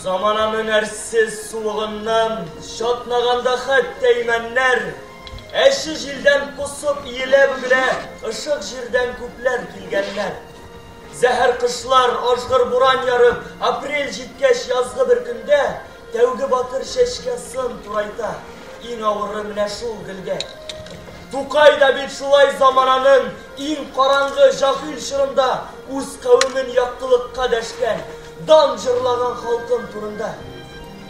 Замана мөнәрсез суыгыннан шатнаганда хәтта имәннәр, әче җилдән косып иелә-бөгелә ышык җирдән күпләр килгәннәр. Зәһәр кышлар, ажгыр буран ярып, апрель җиткәч язгы бер көндә тәүге батыр чәчкә сын турайта. Иң авыры менә шул гөлгә. Тукай да бит шулай замананың Иң караңгы җахил чорында үз кавемен яктылыкка дәшкән, дан җырлаган халкым турында.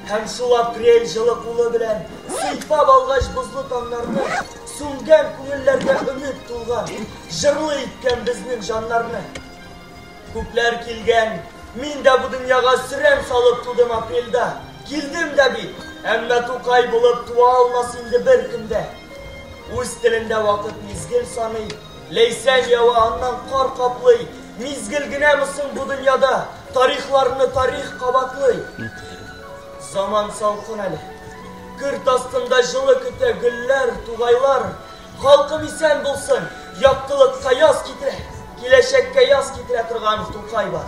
Һәм шул апрель җылы кулы белән сыйпап алгач бозлы таңнарны, сүнгән күңелләргә өмет тулган, җырлы иткән безнең җаннарны. Күпләр килгән, мин дә бу дөньяга сөрән салып тудым апрельдә, килдем дә бит, әмма Тукай булып туа алмас инде беркем дә. Үз телендә вакыт мизгел саный, Ләйсән ява, аннан кар каплый. Мизгел генәме соң бу дөньяда, Тарихларны тарих кабатлый? Заман салкын әле. Көрт астында җылы көтә гөлләр, тугайлар. Халкым исән булсын, яктылыкка яз китерә, Киләчәккә яз китерә торган Тукай бар.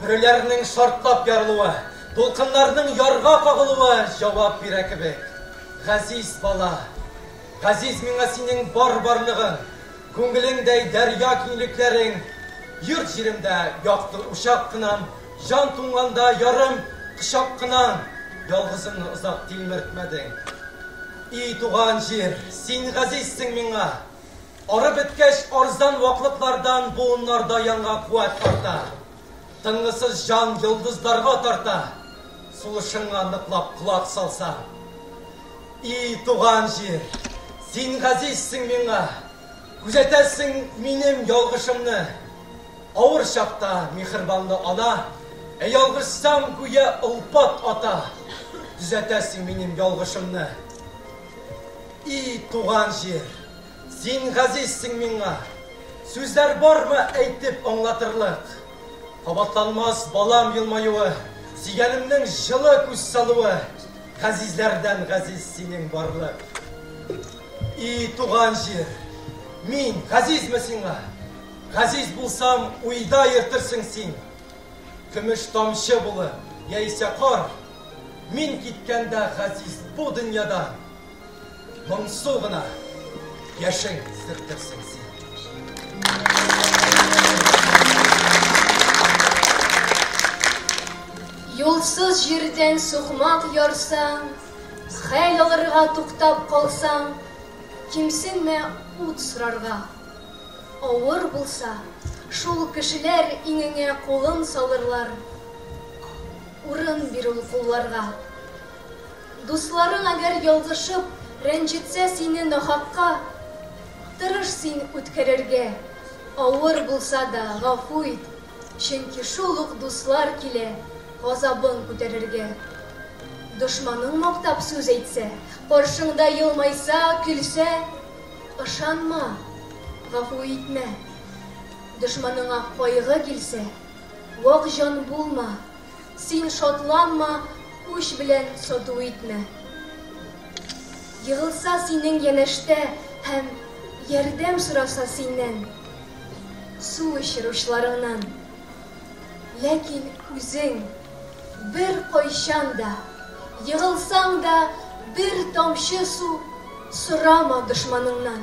Бүреләрнең шартлап ярылуы, дулкыннарның ярга кагылуы җавап бирә кебек. Газиз бала! Газиз миңа синең бар барлыгың, күңелеңдәй дәрья киңлекләрең! Йорт-җиремдә якты учак кынам, җан туңганда ярым кочак кынам! Ялгызымны озак тилмертмәдең. И туган җир, син газизсең миңа! Арып беткәч, арзан ваклыклардан буыннарда янга куәт тарта. Тынгысыз җан йолдызларга тарта. Сулышыңа ныклап колак салсаң. И туган җир, син газизсең миңа, күзәтәсең минем ялгышымны. Авыр чакта михербанлы ана, ә ялгышсам, гүя олпат ата, төзәтәсең минем ялгышымны. И туган җир! Син газизсең миңа. Сүзләр бармы әйтеп аңлатырлык. Кабатланмас балам елмаюы, Сөйгәнемнең җылы күз салуы, Газизләрдән газиз синең барлык. И туган җир, мин газизме сиңа? Газиз булсам, уйда йөртерсең син. Көмеш тамчы булып, яисә кар, Мин киткәндә газиз бу дөньядан. Моңсу гына яшен сөртерсең син. Юлсыз җирдән сукмак ярсаң, хәл алырга туктап калсаң, кимсенмә ут сорарга. Авыр булса, шул кешеләр иңеңә кулын салырлар. Урын бир ул кулларга. Дусларың әгәр ялгышып, рәнҗетсә сине нахакка, Тырыш син үткәрергә, авыр булса да, гафу ит, Чөнки шул ук дуслар килә газабың күтәрергә. Дошманың мактап сүз әйтсә, каршыңда елмайса, көлсә, Ышанма, гафу итмә. Дошманыңа кайгы килсә, вак җан булма. Син шатланма, үч белән сату итмә. Егылса синең янәштә һәм ярдәм сораса синнән, су эчер учларыңнан. Ләкин үзең беркайчан да, егылсаң да, бер тамчы су сорама дошманыңнан.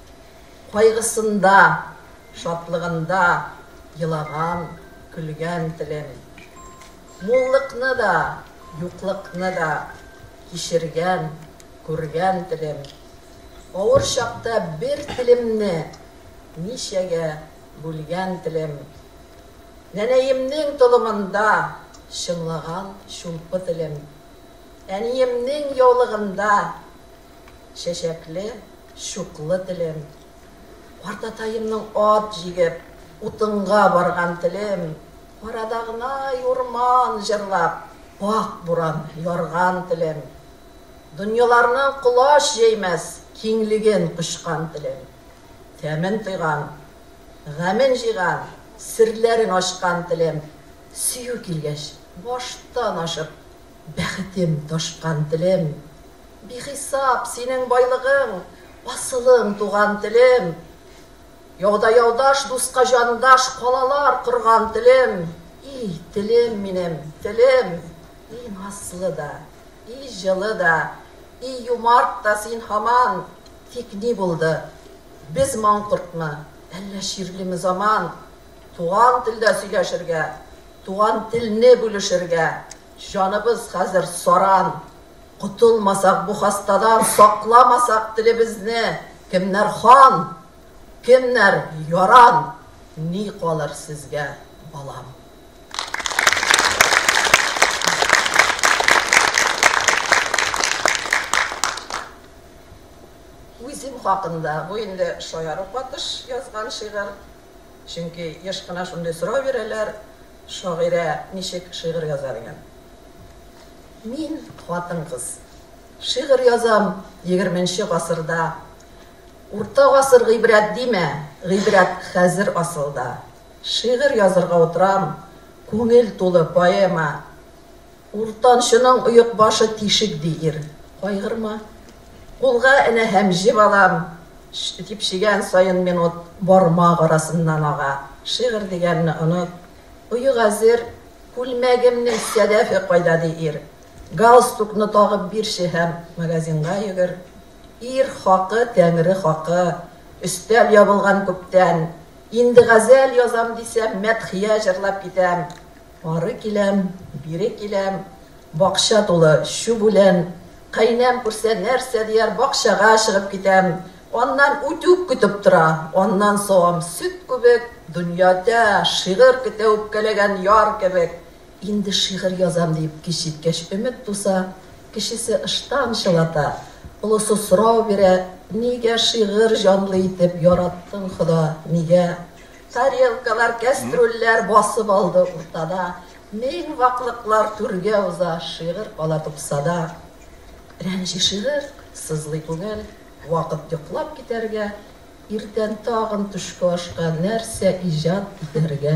Кайгысында, шатлыгында елаган, көлгән телем. Муллыкны да, юклыкны да кичергән, күргән телем. Авыр чакта бер телемне ничәгә бүлгән телем. Нәнәемнең толымында чыңлаган чулпы телем. Әниемнең яулыгында Чәчәкле, чуклы телем. Картатаемның ат җигеп, утынга барган телем. Карадагнай урман җырлап, пакь буран ярган телем. Дөньяларны колач җәймәс киңлеген кочкан телем. Тәмен тойган, гамен җыйган, серләрен ачкан телем. Сөю килгәч, баштан ашып, Бәхетем, ташкан телем. Бихисап синең байлыгың, Асылың, туган телем. Яуда яудаш, дуска җандаш, Калалар корган телем. И телем минем, телем! И назлы да, и җылы да, И юмарт та син һаман! Тик ни булды? Без маңкортмы, Әллә чирлеме заман? Туган телдә сөйләшергә, туган телне бүлешергә, җаныбыз хәзер саран, котылмасак бу хастадан, сакламасак телебезне, кемнәр хан, кемнәр яран, ни калыр сезгә, балам? Үзем хакында, бу инде шаяру катыш язган шигырь. Чөнки еш кына шундый сорау бирәләр, Шагыйрә ничек шигырь яза дигән. Мин, хатын-кыз, шигырь язам егерменче гасырда. Урта гасыр гыйбрәт димә, гыйбрәт хәзер асылда. Шигырь язырга утырам, күңел тулы поэма. Уртанчының оек башы тишек, ди ир. Кайгырма. Кулга энә һәм җе балам, дип чигән саен минут бармак арасыннан ага. Шигырь дигәнне оныт. Оек әзер. Күлмәгемнең сәдәфе кайда, ди ир. Галстукны тагып бирче һәм магазинга йөгер. Ир хакы, Тәңре хакы. Өстәл ябылган күптән. Инде газәл язам дисәм, мәдхия җырлап китәм. Ары киләм, бире киләм, бакча тулы чүп үлән. Каенәм күрсә, нәрсә дияр, бакчага чыгып китәм. Аннан үтүк көтеп тора, аннан савам сөт күбек, дөньяда шигырь көтә үпкәләгән яр кебек. Инде шигырь язам диеп кич җиткәч өмет туса, кечесе ыштан чылата, олысы сорау бирә, Нигә шигырь җанлы итеп яраттың, Хода, нигә? Тарелкалар, кәстрүлләр басып алды уртада, Мең ваклыклар түргә уза, шигырь кала тупсада. Рәнҗи шигырь, сызлый күңел, вакыт йоклап китәргә, Иртән тагын төшке ашка нәрсә иҗат итәргә?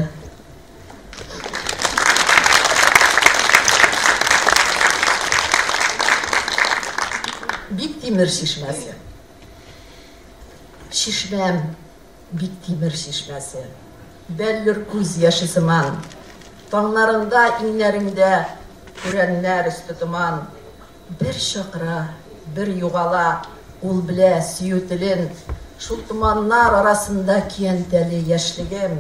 Биктимер чишмәсе. Чишмәм. Бик тимер чишмәсе. Бәллүр күз яше сыман. Таңнарында, иңнәреңдә, Күрәннәр өсте томан. Бер чакыра, бер югала, Ул белә сөю телен. Шул томаннар арасында Киянтәли яшьлегем.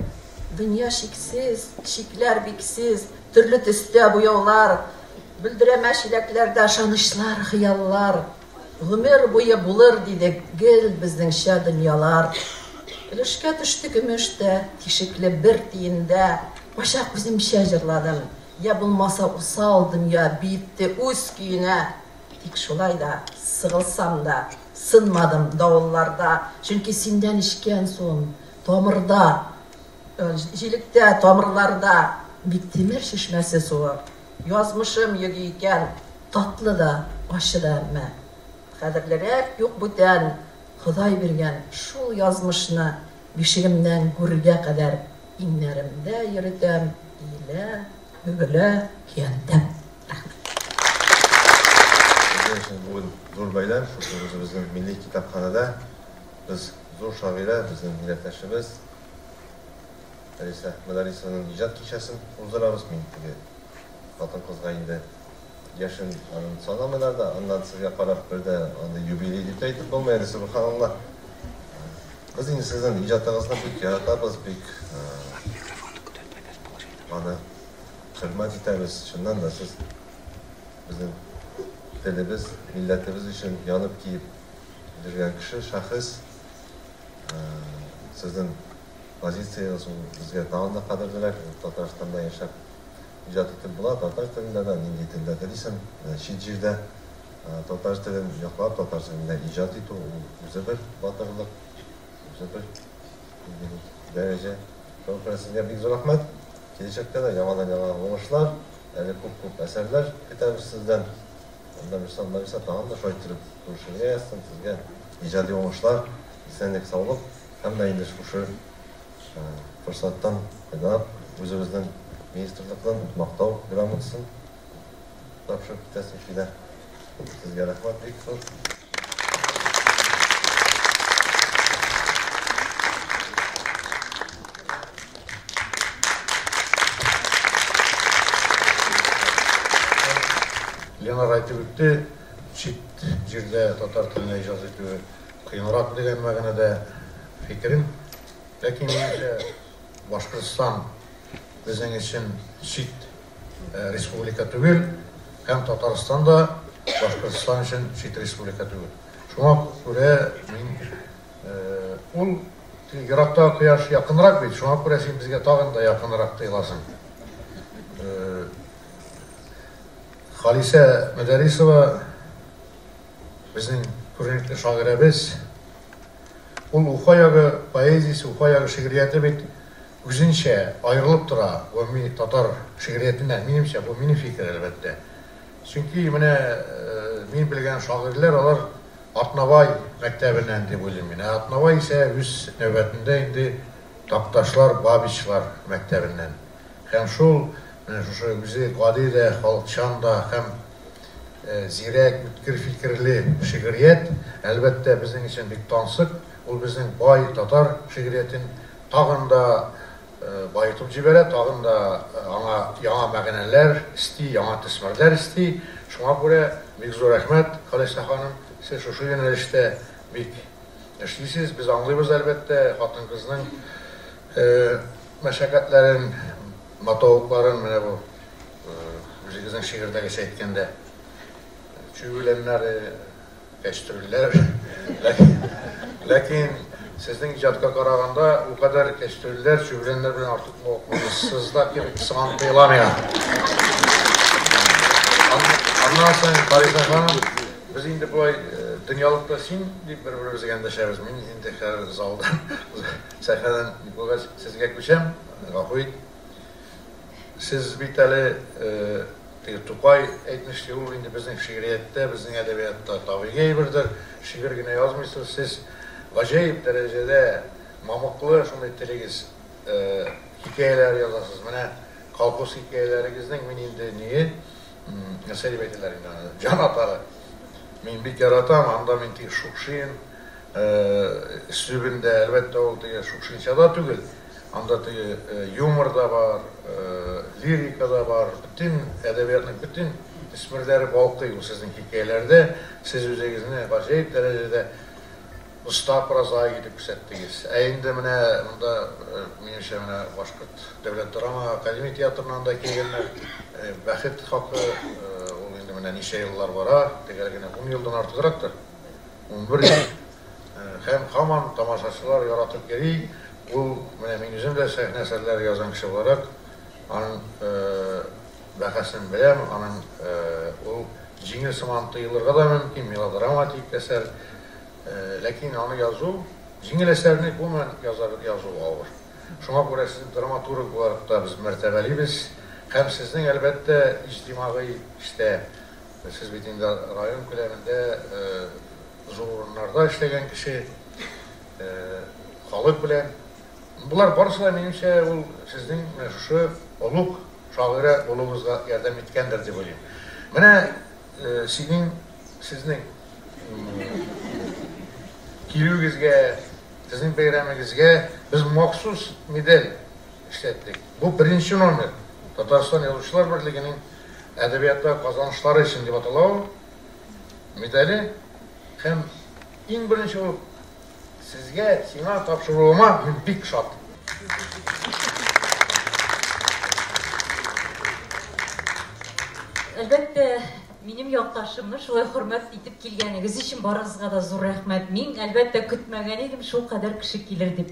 Дөнья чиксез, чикләр биксез, Төрле төстә буяулар. Бөлдерәмә чиләкләрдә Ышанычлар, хыяллар. Гомер буе булыр диде гел безнеңчә дөньялар. Өлешкә төште көмеш тә, тишекле бер тиендә. Кайчак үземчә җырладым. Йә булмаса усал дөнья биетте үз көенә. Тик шулай да, сыгылсам да, сынмадым давылларда. Чөнки синдән эчкән суым тамырда, җилектә, тамырларда. Биктимер чишмәсе суы язмышым йөги икән. Татлы да, ачы да әмма. Кадерлерәк юк бүтән, Ходай биргән шул язмышны Бишегемнән гүргә кадәр Иңнәремдә йөретәм, иелә, бөгелә, көянтәм. Рәхмәт. Безнең өчен бүген зур бәйрәм, шушы үзебезнең милли китапханәдә без зур шагыйрә, безнең милләттәшебез Фәриса Мөдәрисованың иҗат кичәсен уздырабыз. Мин теге хатын-кызга инде. Яшен арын санамыйлар да, аннан сезгә карап бер дә андый юбилей дип тә әйтеп булмый әле, сөбханаллаһ. Без инде сезнең иҗатыгызны бик яратабыз, бик аны хөрмәт итәбез. Чыннан да сез безнең телебез, милләтебез өчен янып тиеп йөргән кеше, шәхес. Сезнең позициягез ул безгә тагын да кадерлерәк, Татарстанда яшәп Иҗат итеп була, татар телендә дә, нинди телдә телисең, чит җирдә татар телен яклап, татар телендә иҗат итү, ул үзе бер батырлык, үзе бер нинди бу дәрәҗә. Шуның белән сезгә бик зур рәхмәт. Киләчәктә дә яңадан-яңа уңышлар, әле күп-күп әсәрләр көтәбез сездән. Нәбирсал, Нәбирса тагын да шулай иттереп зур шигърият язсын, сезгә иҗади уңышлар, исәнлек-саулык һәм дә инде шушы Форсаттан файдалап, үзебезнең министрлыктан Мактау грамотасын тапшырып китәсең, Филә. Сезгә рәхмәт бик зур. Ленар әйтеп үтте, чит җирдә татар теленә иҗат итүе Кыенрак дигән мәгънәдә фикерем. Ләкин минемчә, Башкортстан безнең өчен чит республика түгел, һәм Татарстан да Башкортстан өчен чит республика түгел. Шуңа күрә мин ул ерактагы кояш якынрак бит, шуңа күрә син безгә тагын да якынрак тоеласың. Халисә Мөдәрисова Безнең күренекле шагыйрәбез. Ул Уфа ягы поэзиясе, Уфа ягы шигърияте бит үзенчә аерылып тора гомуми татар шигъриятеннән, минемчә, бу минем фикер, әлбәттә. Чөнки менә мин белгән шагыйрьләр, алар Атнабай мәктәбеннән дип уйлыйм мин. Ә Атнабай исә үз нәүбәтендә инде Такташлар, Бабичлар мәктәбеннән. Һәм шул, менә шушы үзе гади дә, халыкчан да һәм э, зирәк, үткер фикерле шигърият, әлбәттә, безнең өчен бик тансык. Ул безнең бай татар шигъриятен тагын да э, баетып җибәрә, тагын да э, аңа яңа мәгънәләр исти, яңа төсмерләр исти. Шуңа күрә бик зур рәхмәт, Халиса ханым, сез шушы юнәлештә бик эшлисез. Без аңлыйбыз, әлбәттә, хатын-кызның мәшәкатьләрен Матавыкларын менә бу үзегезнең шигырьдәгечә әйткәндә, чүгүләмнәре, кәчтүрләр. Ләкин сезнең иҗатка караганда бу кадәр кәчтүрләр, чүгүләмнәр белән артык мавыктырмыйсыз да кебек сыман тоела миңа. Аннан соң, Фариза ханым, без инде болай дөньялыкта син дип бер-беребезгә эндәшәбез. Мин инде хәзер залдан, сәхнәдән никогә сезгә күчәм. Гафу ит. Сез бит әле теге Тукай әйтмешли, ул инде безнең шигърияттә, безнең әдәбиятта табигый әйбердер, шигырь генә язмыйсыз. Сез гаҗәеп дәрәҗәдә мамыклы шундый телегез, хикәяләр язасыз. Менә колхоз хикәяләрегезнең мин инде ние, нәрсә дип әйтәләр инде аны, җанатары. Мин бик яратам, анда мин теге Шукшин өслүбендә, әлбәттә, ул теге Шукшинча да түгел, Анда теге юмор да бар, лирика да бар, бөтен әдәбиятның бөтен төсмерләре балкый ул сезнең хикәяләрдә. Сез үзегезне гаҗәеп дәрәҗәдә оста прозаик итеп күрсәттегез. Ә инде менә монда, минемчә, менә Башкорт дәүләт драма академия театрыннан да килгәннәр. Бәхет хакы, ул инде менә ничә еллар бара, төгәл генә ун елдан артыграктыр. Унбердә һәм һаман тамашачылар яратып йөри, ул менә мин үзем дә сәхнә әсәрләре язган кеше буларак, аның бәһасен беләм, аның ул җиңел сыман тоелырга да мөмкин, мелодраматик әсәр, ләкин аны язу, җиңел әсәрне гомумән язу авыр. Шуңа күрә сезне драматург буларак та без мәртәбәлибез һәм сезнең, әлбәттә, иҗтимагый эштә Сез бит инде район күләмендә зур урыннарда эшләгән кеше, халык белән. Болар барысы да, минемчә, ул сезнең менә шушы олуг шагыйрә булуыгызга ярдәм иткәндер дип уйлыйм. Менә синең, сезнең килүегезгә, сезнең бәйрәмегезгә без махсус медаль эшләттек. Бу беренче номер, Татарстан Язучылар берлегенең Әдәбиятта казанышлары өчен дип атала ул медале һәм иң беренче булып сезгә, сиңа тапшыруыма мин бик шат. Әлбәттә, минем якташымны шулай хөрмәт итеп килгәнегез өчен барыгызга да зур рәхмәт. Мин, әлбәттә, көтмәгән идем шулкадәр кеше килер дип.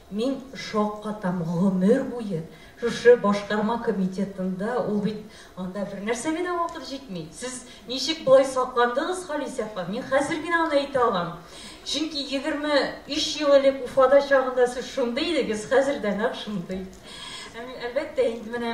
Мин шок катам, гомер буе шушы башкарма комитетында, ул бит анда бернәрсәгә дә вакыт җитми. Сез ничек болай сакландыгыз, Халисә апа? Мин хәзер генә аны әйтә алам. Чөнки 23 ел элек Уфада чагында сез шундый идегез, хәзер дә нәкъ шундый. Әлбәттә, инде менә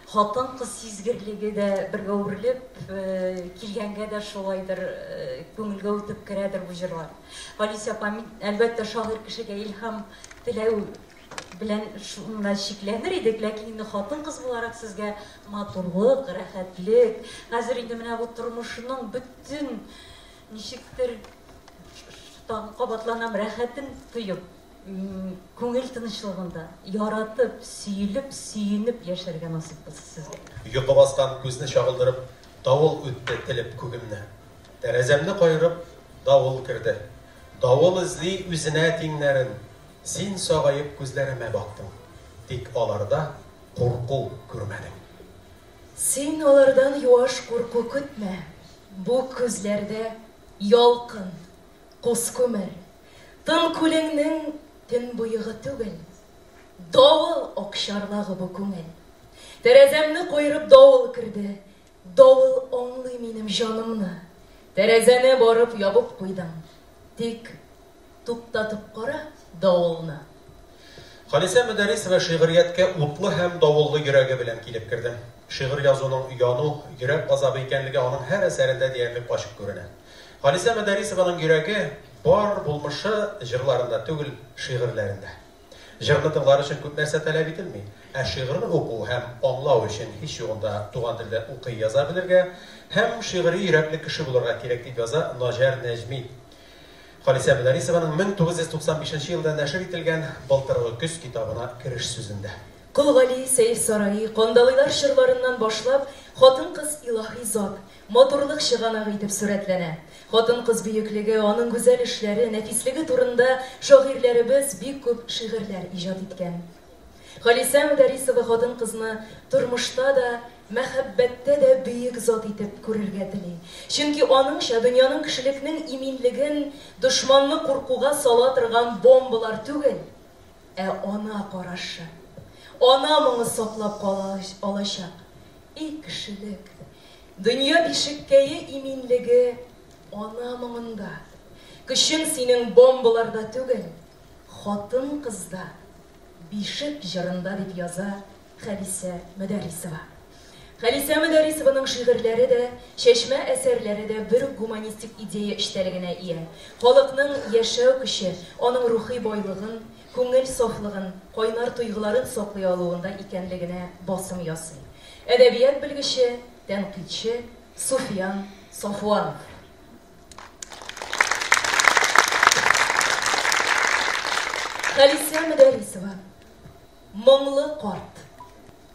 Хатын-кыз сизгерлеге дә бергә үрелеп килгәнгә дә шулайдыр, күңелгә үтеп керәдер бу җырлар. Галис апа, мин, әлбәттә, шагыйрь кешегә илһам теләү белән шуна чикләнер идек, ләкин инде хатын-кыз буларак сезгә матурлык, рәхәтлек, хәзер инде менә бу тормышның бөтен, ничектер, тагын кабатланам, рәхәтен тоеп, Күңел тынычлыгында, яратып, сөелеп, сөенеп яшәргә насыйп булсын сезгә. Йокы баскан күзне чагылдырып, Давыл үтте телеп күгемне. Тәрәзәмне каерып, давыл керде. Давыл эзли үзенә тиңнәрен. Син сагаеп күзләремә бактың, Тик аларда курку күрмәдең. Син алардан юаш курку көтмә, Бу күзләрдә, ялкын! Кос күмер, тын күлеңнең төн боегы түгел, Давыл ак чарлагы бу күңел. Тәрәзәмне куерып давыл керде, Давыл аңлый минем җанымны. Тәрәзәне барып ябып куйдым, Тик туктатып кара давылны. Халисә Мөдәрисова шигърияткә утлы һәм давыллы йөрәге белән килеп керде. Шигырь язуның яну, йөрәк газабы икәнлеге аның һәр әсәрендә диярлек ачык күренә. Халисә Мөдәрисованың йөрәге бар булмышы җырларында түгел, шигырьләрендә. Җырны тыңлар өчен күп нәрсә таләп ителми, ә шигырьне уку һәм аңлау өчен һич югында туган телдә укый яза белергә һәм шигъри йөрәкле кеше булырга кирәк, дип яза Наҗар Нәҗми Халисә Мөдәрисованың 1995 елда нәшер ителгән Былтыргы көз китабына кереш сүзендә. Кол Гали, Сәер сараи, Кандалыйлар чорларыннан башлап, хатын-кыз илаһи зат. Матурлык чыганагы итеп сурәтләнә. Хатын-кыз бөеклеге, аның гүзәл эшләре, нәфислеге турында шагыйрьләребез бик күп шигырьләр иҗат иткән. Халисә Мөдәрисова хатын-кызны тормышта да, мәхәббәттә дә бөек зат итеп күрергә тели. Чөнки аныңча, дөньяның кешелекнең иминлеген дошманны куркуга сала торган бомбалар түгел, ә ана карашы. Ана моңы саклап кала алачак, И кешелек! Дөнья бишеккәе иминлеге ана моңында. Көчең синең бомбаларда түгел, хатын-кызда, бишек җырында, дип яза Хәлисә Мөдәррисова. Хәлисә Мөдәррисованың шигырьләре дә, чәчмә әсәрләре дә бер үк гуманистик идея эчтәлегенә ия. Халыкның яшәү көче, аның рухи байлыгын, күңел сафлыгын, кайнар тойгыларын саклый алуында икәнлегенә басым ясый әдәбият белгече, тәнкыйтьче Суфиян Сафуанов. Халисә Мөдәрисова, Моңлы карт.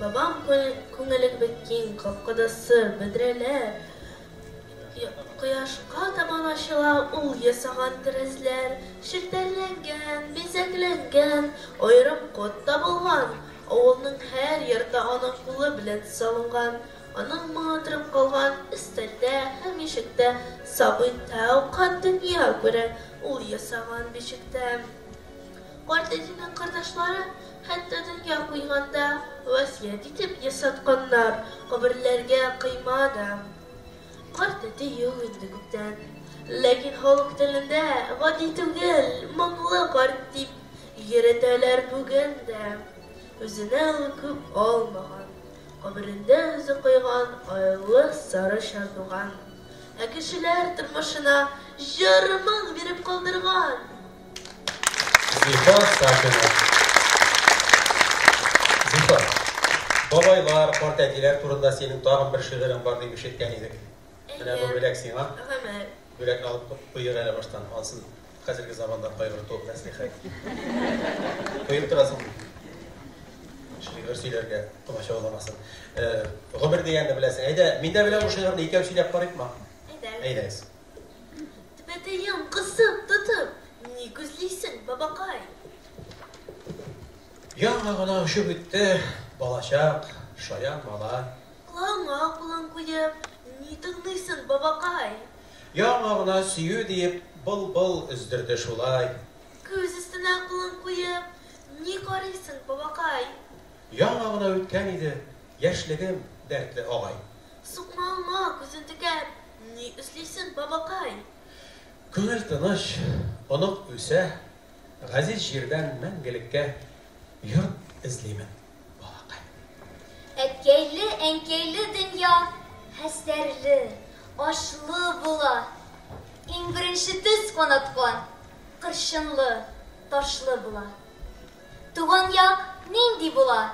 Бабам күңелең бик киң, капкада сыр, бөдрәләр, кояшка табан ачыла, ул ясаган тәрәзләр, челтәрләнгән, бизәкләнгән, аерым код табылган, авылның һәр йорты аның кулы белән салынган, аның моңы торып калган, өстәлдә һәм ишектә сабый тәү кат дөнья күрә, ул ясаган бишектә. Карт әтинең кордашлары хәтта дөнья куйганда васыять итеп ясатканнар, каберләргә койма да. Карт әти юк инде күптән. Ләкин халык телендә гади түгел, моңлы карт дип йөретәләр бүген дә. Үзенә ул күп алмаган. Каберендә үзе койган айлы сары чардуган. Ә кешеләр тормышына җыр-моң биреп калдырган! Зифа Сафина. Зифа, бабайлар, картәтиләр турында синең тагын бер шигырең бар дип ишеткән идек. Менә бу бүләк сиңа. Гомер. Бүләк алып куйыр әле баштан, ансын хәзерге заманда кайгырту мәслихәт. Куеп торасың. Шигырь сөйләргә комачауламасын. Гомер дигәнне беләсең. Әйдә, мин дә беләм бу шигырьне, икәү сөйләп карыйкмы? Әйдә. Әйдәгез. Тәпәтәем кысып тотып, ни күзлисең, бабакай? Яңа гына очып үтте балачак, шаян малай. Колагыңа кулың куеп, ни тыңлыйсың, бабакай? Яңа гына сөю диеп, былбыл өздерде шулай. Күз өстенә кулың куеп, ни карыйсың, бабакай? Яңа гына үткән иде яшьлегем, дәртле агай. Сукмагыңа күзен текәп, Ни эшлисең, бабакай? Күңел тыныч, онык үсә, газиз җирдән мәңгелеккә йорт эзлимен, балакай. Әткәйле-әнкәйле дөнья хәстәрле, ачлы була. Иң беренче төз канаткан, кырчынлы, ташлы була. Туган як нинди була?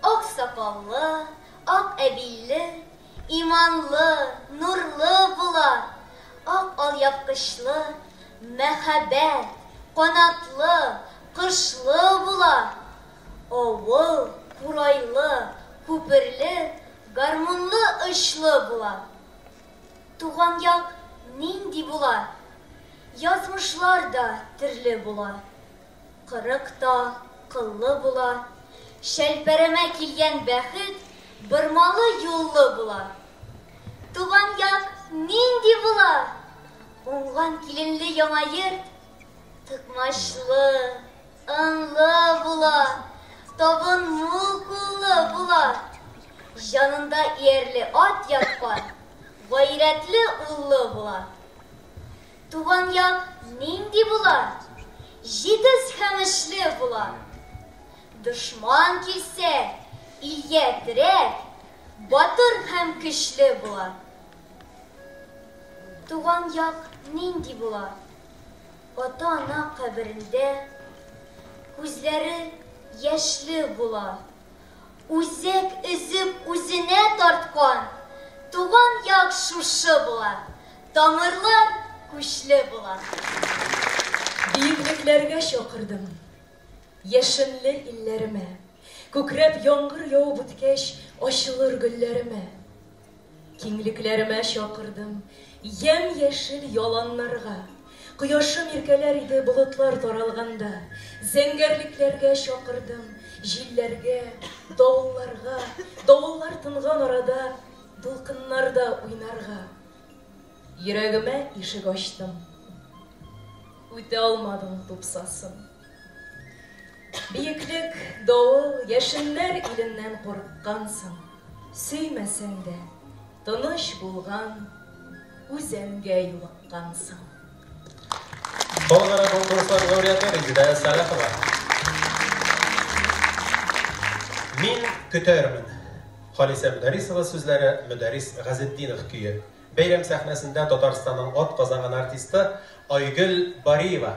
Ак сакаллы, ак әбилле, Иманлы, нурлы була, ак алъяпкычлы, мәһабәт, канатлы, кошлы була. Авыл, курайлы, күперле, гармунлы очлы була. Туган як нинди була? Язмышлар да төрле була. Кырык та кыллы була. Чәлпәрәмә килгән бәхет бормалы юллы була. Туган як нинди була? Уңган киленле яңа йорт тыкмачлы, ынлы була. Табын мул куллы була. Җанында иярле ат яткан, гайрәтле уллы була. Туган як нинди була? Җитез һәм эшле була. Дошман килсә, илгә терәк, батыр һәм көчле була. Туган як нинди була? Ата-ана каберендә күзләре яшьле була. Үзәк өзеп үзенә тарткан, туган як шушы була. Тамырлар күчле була. Биеклекләргә чакырдым. Яшенле илләремә. Күкрәп яңгыр явып үткәч, ачылыр гөлләремә. Киңлекләремә чакырдым. Ямь яшел яланнарга. Кояшым иркәләр иде болытлар таралганда. Зәңгәрлекләргә чакырдым, җилләргә, давылларга. Давыллар тынган арада, дулкыннарда уйнарга. Йөрәгемә ишек ачтым. Үтә алмадың тупсасын. Биеклек, давыл, яшеннәр иленнән курыккансың. Сөймәсәң дә, тыныч булган үзәнгә юлыккансың. Халыкара конкурслар лауреаты Резеда Сәлахова. Мин көтәрмен. Халисә Мөдәрисова сүзләре, Мөдәрис Газетдинов көе. Бәйрәм сәхнәсендә Татарстанның ат казанган артисты Айгөл Бариева.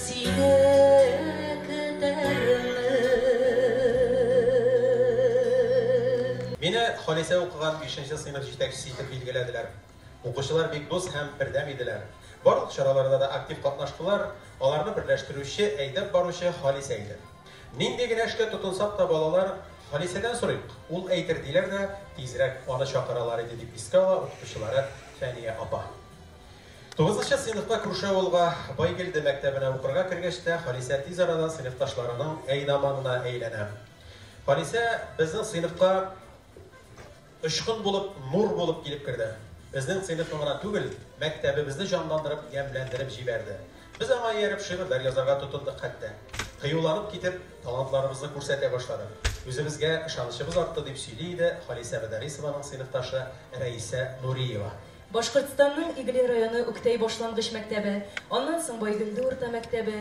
Сине көтәрмен. Мине Халисә укыган бишенче сыйныф җитәкчесе итеп билгеләделәр. Укучылар бик дус һәм бердәм иделәр. Барлык чараларда да актив катнаштылар, аларны берләштерүче, әйдәп баручы Халисә иде. Нинди генә эшкә тотынсак та балалар, Халисәдән сорыйк, ул әйтер, диләр дә тизрәк аны чакыралар иде, дип искә ала укытучылары Фәния апа. Тугызынчы сыйныфта Крушеулга Байгелде мәктәбенә укырга кергәч тә, Халисә тиз арада сыйныфташларының әйдаманына әйләнә. Халисә безнең сыйныфка очкын булып, нур булып килеп керде. Безнең сыйныфны гына түгел, мәктәбебезне җанландырып, ямьләндереп җибәрде. Без аңа ияреп шигырьләр язарга тотындык хәтта. Кыюланып китеп, талантларыбызны күрсәтә башладык. Үзебезгә ышанычыбыз артты, дип сөйли иде Халисә Мөдәррисованың сыйныфташы Рәисә Нуриева. Башкортстанның Иглин районы Үктәй башлангыч мәктәбе, аннан соң Байгөлде урта мәктәбе,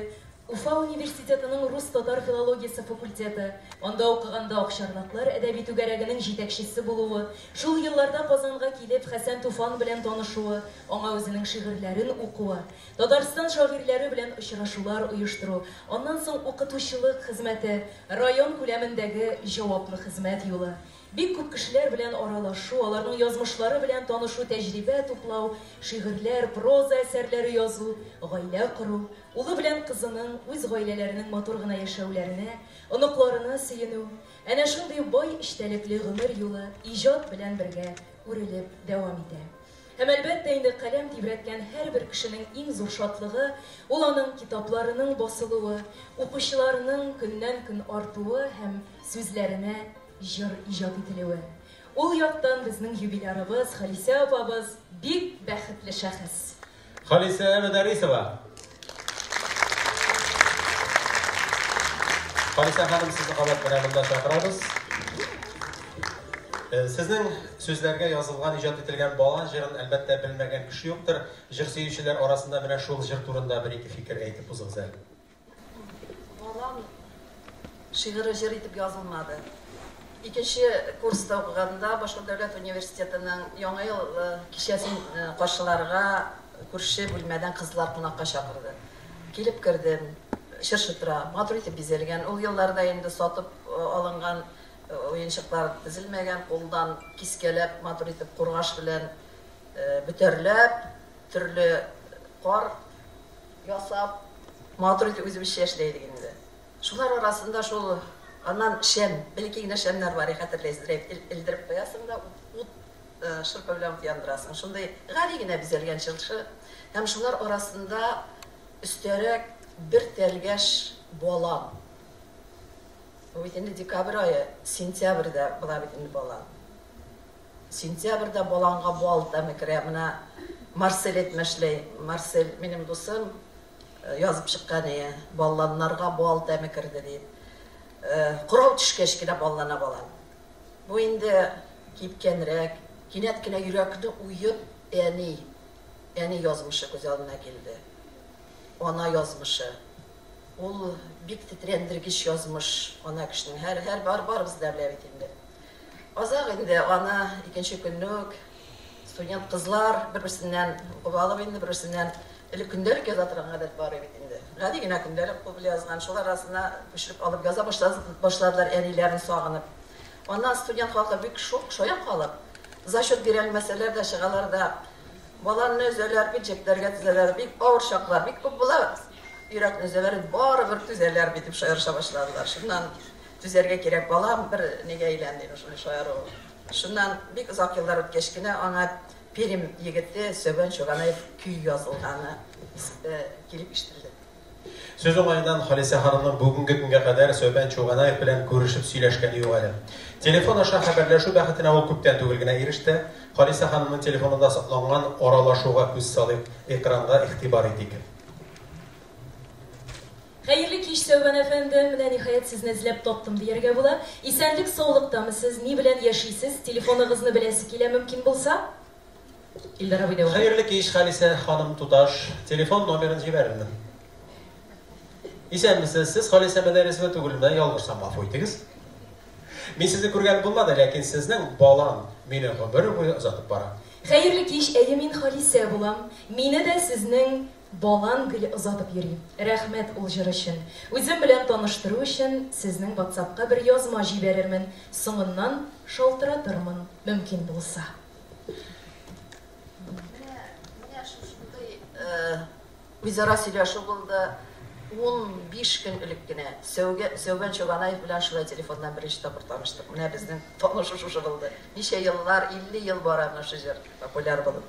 Уфа университетының рус-татар филологиясе факультеты, анда укыганда Акчарлаклар әдәби түгәрәгенең җитәкчесе булуы, шул елларда Казанга килеп, Хәсән Туфан белән танышуы, аңа үзенең шигырьләрен укуы, Татарстан шагыйрьләре белән очрашулар оештыру, аннан соң укытучылык хезмәте, район күләмендәге җаваплы хезмәт юлы. Бик күп кешеләр белән аралашу, аларның язмышлары белән танышу, тәҗрибә туплау, шигырьләр, проза әсәрләре язу, гаилә кору, улы белән кызының үз гаиләләренең матур гына яшәүләренә, оныкларына сөенү, әнә шундый бай эчтәлекле гомер юлы иҗат белән бергә үрелеп дәвам итә. Һәм, әлбәттә инде, каләм тибрәткән һәрбер кешенең иң зур шатлыгы, ул аның китапларының басылуы, укучыларының көннән-көн артуы һәм сүзләренә Җыр иҗат ителүе. Ул яктан безнең юбилярыбыз, Халисә апабыз бик бәхетле шәхес. Халисә Мөдәррисова. Халисә ханым, сезне кабат менә монда чакырабыз. Э, сезнең сүзләргә язылган, иҗат ителгән бала җырын әлбәттә белмәгән кеше юктыр. Җыр сөючеләр арасында менә шул җыр турында бер-ике фикер әйтеп узыгыз әле. Барам шигыре җыр итеп язылмады. Икенче курста укыганда Башкорт дәүләт университетының Яңа ел кичәсен каршыларга күрше бүлмәдән кызлар кунакка чакырды. Килеп кердем. Чыршы тора. Матур итеп бизәлгән. Ул елларда инде сатып алынган уенчыклар тезелмәгән, кулдан кискәләп, матур итеп кургаш белән бөтәрләп, төрле кар ясап, матур итеп үзебезчә эшли идек инде. Шулар арасында шул, аннан шәм, элекке генә шәмнәр бар, хәтерләйсез, рәйп элдереп куясың да, ут, шырпы белән ут яндырасың. Шундый гади генә бизәлгән чыршы. Һәм шулар арасында өстәрәк бер тәлгәш балан. Бу бит инде декабрь ае, сентябрьдә була бит инде балан. Сентябрьдә баланга бал тәме керә. Менә Марсель әйтмешли, Марсель, минем дусым, язып чыккан иде, Балланнарга бал тәме керде, диеп. Кырау төшкәч кенә баллана балан. Бу инде кипкәнрәк, кинәт кенә йөрәкне уеп, әни, әни язмышы күз алдына килде. Ана язмышы. Ул бик тетрәндергеч язмыш, ана кешенең. Һәр, һәр, барыбыз да белә бит инде. Азак инде аны икенче көнне үк студент кызлар бер-берсеннән укып алып инде бер-берсеннән элек көндәлек яза торган гадәт бар иде бит инде. Гади генә көндәлек кул белән язган, шул арасына күчереп алып яза башладылар әниләрен сагынып. Аннан студент халкы бик шук шая калып, зачет бирә алмәсәләр дә чыгалар да баланны өзәләр бит, җепләргә тезәләр, бик авыр чаклар, бик күп була, йөрәкне өзәләр, барыбер түзәләр бит дип шаярыша башладылар. Шуннан Түзәргә кирәк, балам, бер нигә әйлән, диде шундый шаяру. Шуннан бик озак еллар үткәч кенә аңа Пермь егете Сөбән Чуганаев көй язылганы килеп ишетелде. Сүз уңаеннан, Халисә ханымның бүгенге көнгә кадәр Сөбән Чуганаев белән күрешеп сөйләшкәне юк әле. Телефон аша хәбәрләшү бәхетенә ул күптән түгел генә иреште. Халисә ханымның телефонында сакланган аралашуга күз салыйк, экранга игътибар итик. Хәерле кич, Сәүбән әфәнде! Менә ниһаять сезне эзләп таптым дияргә була. Исәнлек саулыктамы сез? Ни белән яшисез? Телефоныгызны беләсе килә, мөмкин булса? Илдар абый дәвам. Хәерле кич, Халисә ханым, туташ! Телефон номерын җибәрермен. Исәнмесез, сез Халисә Мәдәрисова түгелме? Ялгышсам, гафу итегез. Мин сезне күргән булмады, ләкин сезнең балан мине гомер буе озатып бара. Хәерле кич, әйе мин Халисә булам. Мине дә сезнең Балан гел озатып йөри. Рәхмәт ул җыр өчен. Үзем белән таныштыру өчен сезнең ватсапка бер язма җибәрермен, соңыннан шалтыратырмын, мөмкин булса. Менә, менә шушындый үзара сөйләшү булды. Унбиш көн элек кенә Сәүгә, Сәүбән Чобанаев белән шулай телефоннан беренче тапкыр таныштык. Менә безнең танышу шушы булды. Ничә еллар, 50 ел бара менә шушы җыр популяр булып.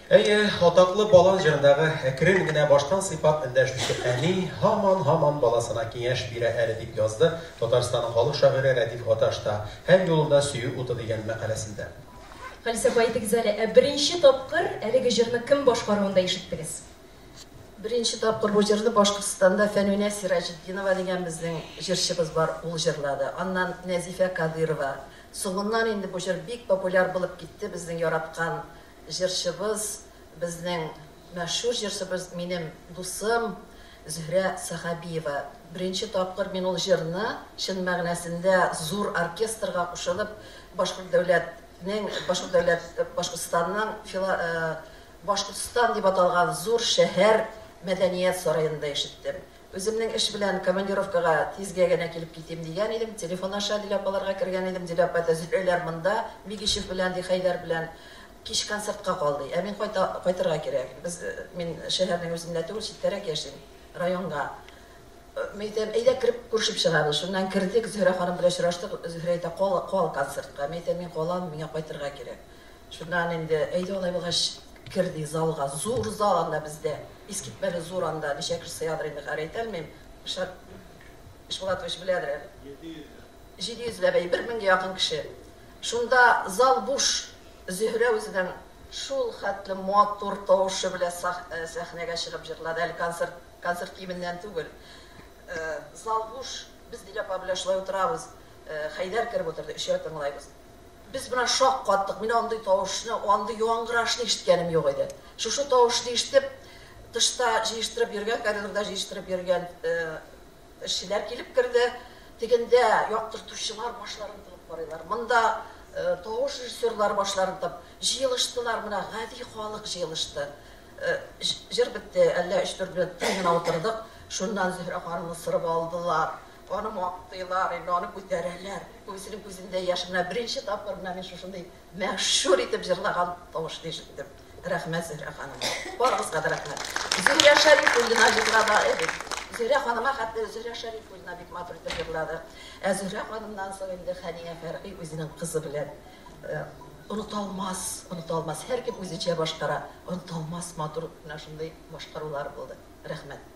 Әйе, атаклы Балан җырындагы әкрен генә баштан сыйпап эндәшүче әни һаман-һаман баласына киңәш бирә әле, дип язды Татарстанның халык шагыйре Рәдиф Гаташ та Һәр юлында сөю уты дигән мәкаләсендә. Фәлсәфә әйтегез әле, ә беренче тапкыр әлеге җырны кем башкаруында ишеттегез? Беренче тапкыр бу җырны Башкортстанда Фәнүнә Сираҗетдинова дигән безнең җырчыбыз бар, ул җырлады. Аннан Нәзифә Кадыйрова. Соңыннан инде бу җыр бик популяр булып китте, безнең яраткан Җырчыбыз, безнең мәшһүр җырчыбыз, минем дусым Зөһрә Сәхәбиева. Беренче тапкыр мин ул җырны чын мәгънәсендә зур оркестрга кушылып Башкорт дәүләтнең, Башкорт дәүләт, Башкортстанның фила, Башкортстан дип аталган зур шәһәр мәдәният сараенда ишеттем. Үземнең эш белән командировкага тизгә генә килеп китим дигән идем, телефон аша Дилә апаларга кергән идем, Дилә апа да Зөһрәләр монда, Бигичев белән, ди, Хәйдәр белән кич концертка кал, ди. Ә мин кайта, кайтырга кирәк. Без, мин шәһәрнең үзендә түгел, читтәрәк яшим, районга. Мин әйтәм, әйдә кереп күрешеп чыгабыз. Шуннан кердек, Зөһрә ханым белән очраштык, Зөһрә әйтә, кал, кал концертка. Мин әйтәм, мин калам, миңа кайтырга кирәк. Шуннан инде, әйдә алай булгач, кер, ди, залга. Зур зал анда бездә. Искитмәле зур анда. Ничә кеше сыядыр инде, хәер, әйтә алмыйм. Илшат Ишбулатович беләдер әле. Җиде йөзләп. Җиде йөзләп, әйе, бер меңгә якын кеше. Шунда зал буш. Зөһрә үзенең шул хәтле матур тавышы белән сәхнәгә чыгып җырлады. Әле концерт, концерт киеменнән түгел. Зал буш. Без Дилә апа белән шулай утырабыз. Хәйдәр кереп утырды. Өчәү тыңлыйбыз. Без бына шак каттык, мин андый тавышны, андый яңгырашны ишеткәнем юк иде. Шушы тавышны ишетеп, тышта җыештырып йөргән, коридорда җыештырып йөргән эшчеләр килеп керде. Тегендә яктыртучылар башларын тыгып карыйлар. Монда тавыш режиссерлары башларын тыгып җыелыштылар, менә гади халык җыелышты. Җыр бетте, әллә өч-дүрт минут тын гына утырдык, шуннан Зөһрә ханымны сырып алдылар. Аны мактыйлар, инде аны күтәрәләр. Күбесенең күзендә яшь. Менә беренче тапкыр менә мин шушындый мәшһүр итеп җырлаган тавышны ишеттем. Рәхмәт, Зөһрә ханым. Барыгызга да рәхмәт. Зөһрә Шәрифуллина җырлады, әйе. Зөһрә ханыма хәтле Зөһрә Шәрифуллина бик матур итеп җырлады. Ә Зөһрә ханымнан соң инде Хәния Фәрги үзенең кызы белән оныталмас, оныталмас. Һәркем үзенчә башкара. Оныталмас матур менә шундый башкарулар булды. Рәхмәт.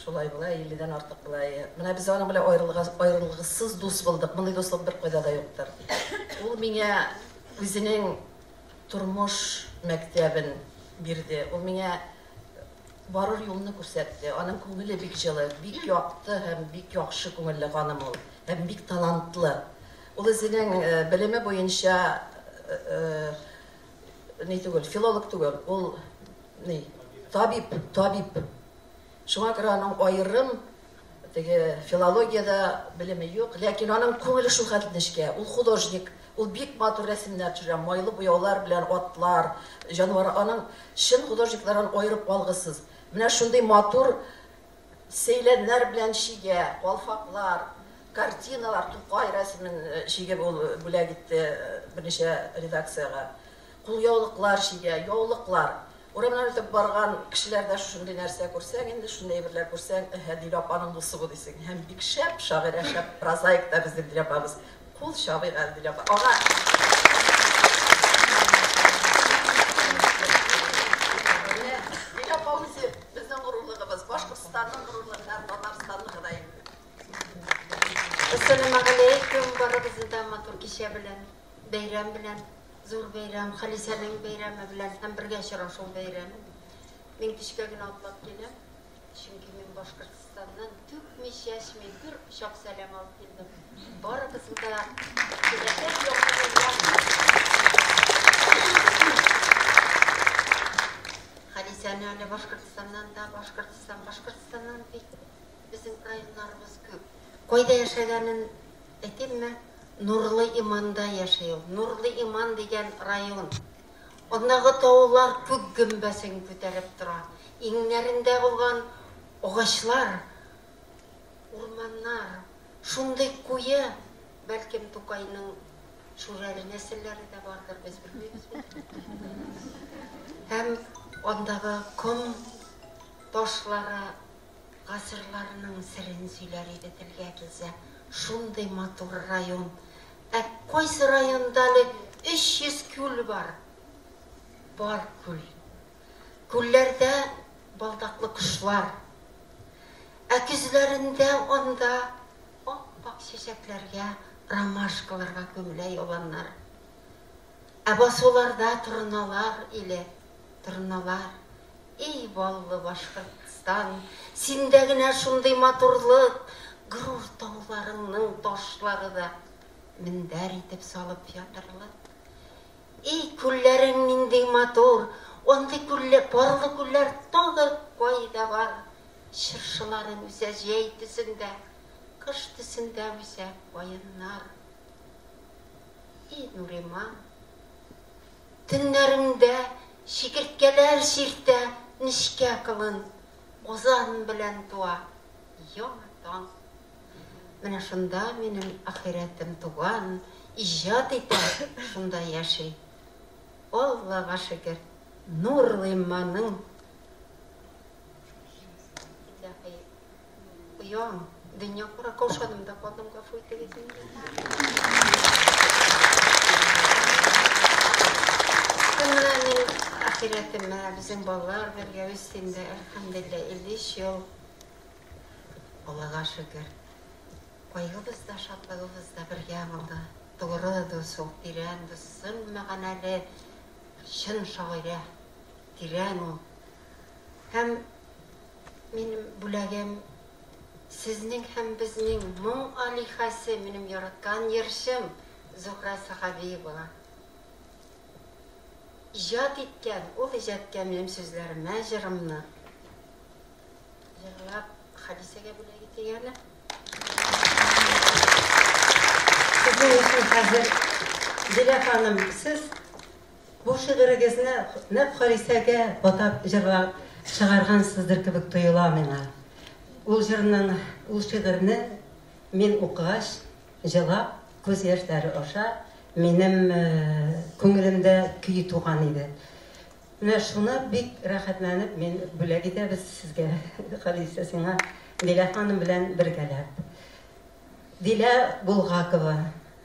Шулай була, илледән артык була. Менә без аның белән аерылгысыз дус булдык. Мондый дуслык беркайда да юктыр. Ул миңа үзенең тормыш мәктәбен бирде. Ул миңа барыр юлны күрсәтте. Аның күңеле бик җылы, бик якты һәм бик яхшы күңелле ханым ул. Һәм бик талантлы. Ул үзенең белеме буенча ни түгел, филолог түгел, ул ни, табиб, табиб. Шуңа күрә аның аерым теге филологиядә белеме юк, ләкин аның күңеле шул хәтле нечкә. Ул художник, ул бик матур рәсемнәр төшерә, майлы буяулар белән атлар, җанвар. Аның чын художниклардан аерып алгысыз. Менә шундый матур Сәйләннәр белән чигә, калфаклар, картиналар, Тукай рәсемен чигеп ул бүләк итте берничә редакциягә. Кулъяулыклар чигә, яулыклар. Урамнан үтеп барган кешеләр дә шушындый нәрсә күрсәң инде, шундый әйберләр күрсәң, Әһә, Дилә апаның дусы бу дисең. Һәм бик шәп шагыйрә, шәп прозаик та безнең Дилә апабыз. Кул чабыйк әле бит апа. Ага. Менә Дилә апа үзе безнең горурлыгыбыз, Башкортстанның горурлыгы һәм Татарстанныкы да инде. Әссәламу галәйкүм барыгызны да матур кичә белән, бәйрәм белән, зур бәйрәм, Халисәнең бәйрәме белән һәм бергә очрашу бәйрәме. Мин кичкә генә атлап киләм. Чөнки мин Башкортстаннан түкми-чәчми бер кочак сәлам алып килдем. Барыгызны да теләсәк якларында. Хәдисәне әле Башкортстаннан да, Башкортстан, Башкортстаннан бит безнең районнарыбыз күп. Кайда яшәгәнен әйтимме? Нурлы Иманда яши ул. Нурлы Иман дигән район. Андагы таулар күк гөмбәсен күтәреп тора, иңнәрендә булган агачлар, урманнар шундый куе, бәлкем Тукайның шүрәле нәселләре дә бардыр, без белмибез бит. Һәм андагы ком ташлары Гасырларның серен сөйләр иде телгә килсә, шундый матур район. Ә кайсы районда әле 300 күл бар? Бар күл. Күлләрдә балдаклы кошлар. Ә көзләрендә анда ап-ак чәчәкләргә, ромашкаларга күмелә яланнар. Ә басуларда торналар иле, торналар. И баллы Башкортстан, синдә генә шундый матурлык, горур тауларыңның ташлары да мендәр итеп салып ятырлык. И күлләрең нинди матур, андый күлле, парлы күлләр тагы кайда бар? Чыршыларың үсә җәй төсендә, кыш төсендә үсә каеннар. И Нуриман, төннәреңдә чикерткәләр чиртә нечкә кылын, Узан белән туа яңа таң. Менә шунда минем ахирәтем туган, иҗат итә, шунда яши. Аллага шөкер, Нурлыйманың. Оям, дөнья кара каушадым да калдым, гафу итегез инде. Менә мин ахирәтемә, безнең балалар бергә үстем дә, әлхәмдулилла, 53 ел. Аллага шөкер. Кайгыбыз да, шатлыгыбыз да бергә булды. Тугры дус ул, тирән дус, сын мәгънәле, чын шагыйрә, тирән ул. Һәм Минем бүләгем, сезнең һәм безнең моң алиһәсе, минем яраткан йырчым Зухра Сәхәбиевага. Иҗат иткән ул иҗаткә минем сүзләремә җырымны җырлап Хәдисәгә бүләк итик әле. Сезнең өчен хәзер Дилә ханым, сез Бу шигырегезне нәкъ Халисәгә атап җырлап чыгаргансыздыр кебек тоела миңа. Ул җырның, ул шигырьне мин укыгач, җылап, күз яшьләре аша минем күңелемдә көй туган иде. Менә шуны бик рәхәтләнеп мин бүләк итәбез сезгә, Халисә, сиңа, Дилә ханым белән бергәләп. Дилә Булгакова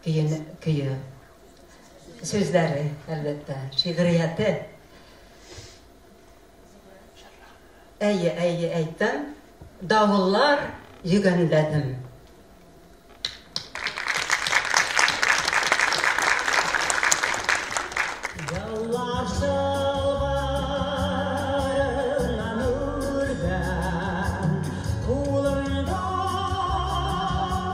көен, көе. Сүзләре, әлбәттә, шигърияте. Әйе, әйе, әйттем. Давыллар йөгәнләдем.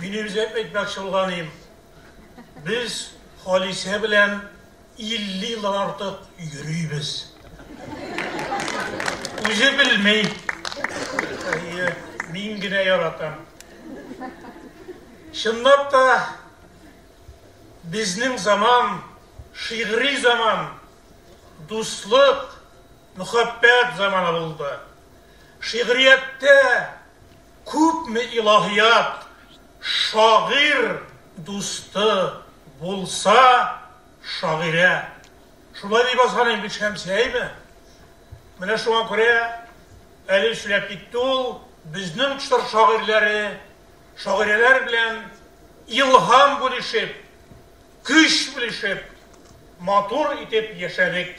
Мин үзем әйтмәкче булганым, без Халисә белән 50 елдан артык йөрибез. Үзе белми. Мин генә яратам. Чынлап та Безнең заман, шигъри заман, дуслык, мөхәббәт заманы булды. Шигърияттә күпме илаһият, шагыйрь дусты булса, шагыйрә. Шулай дип язган бит Шәмсия, әйме? Менә шуңа күрә әле сөйләп китте ул, безнең чор шагыйрьләре, Шагыйрәләр белән илһам бүлешеп, көч бүлешеп, матур итеп яшәдек.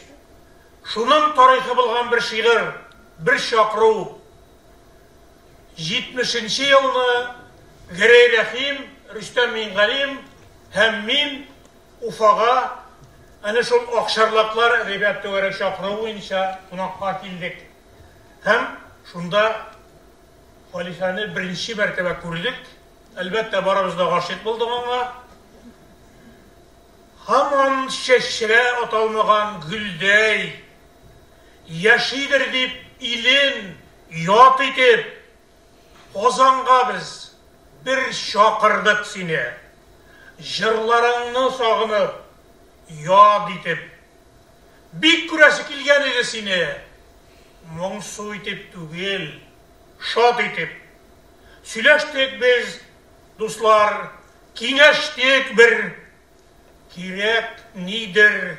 Шуның тарихы булган бер шигырь, бер чакыру. Җитмешенче елны Гәрәй Рәхим, Рөстәм Миңгалим һәм мин Уфага әнә шул Акчарлаклар әдәбият түгәрәк чакыруы буенча кунакка килдек. Һәм шунда Халифәне беренче мәртәбә күрдек. Әлбәттә, барыбыз да гашыйк булдык аңа. Һаман чәчрә аталмаган гөлдәй яшидер дип, илен ят итеп, Казанга без бер чакырдык сине. Җырларыңны сагынып, яд итеп. Бик күрәсе килгән иде сине. Моңсу итеп түгел, шат итеп. Сөйләштек без, дуслар, киңәштек бер. Кирәк нидер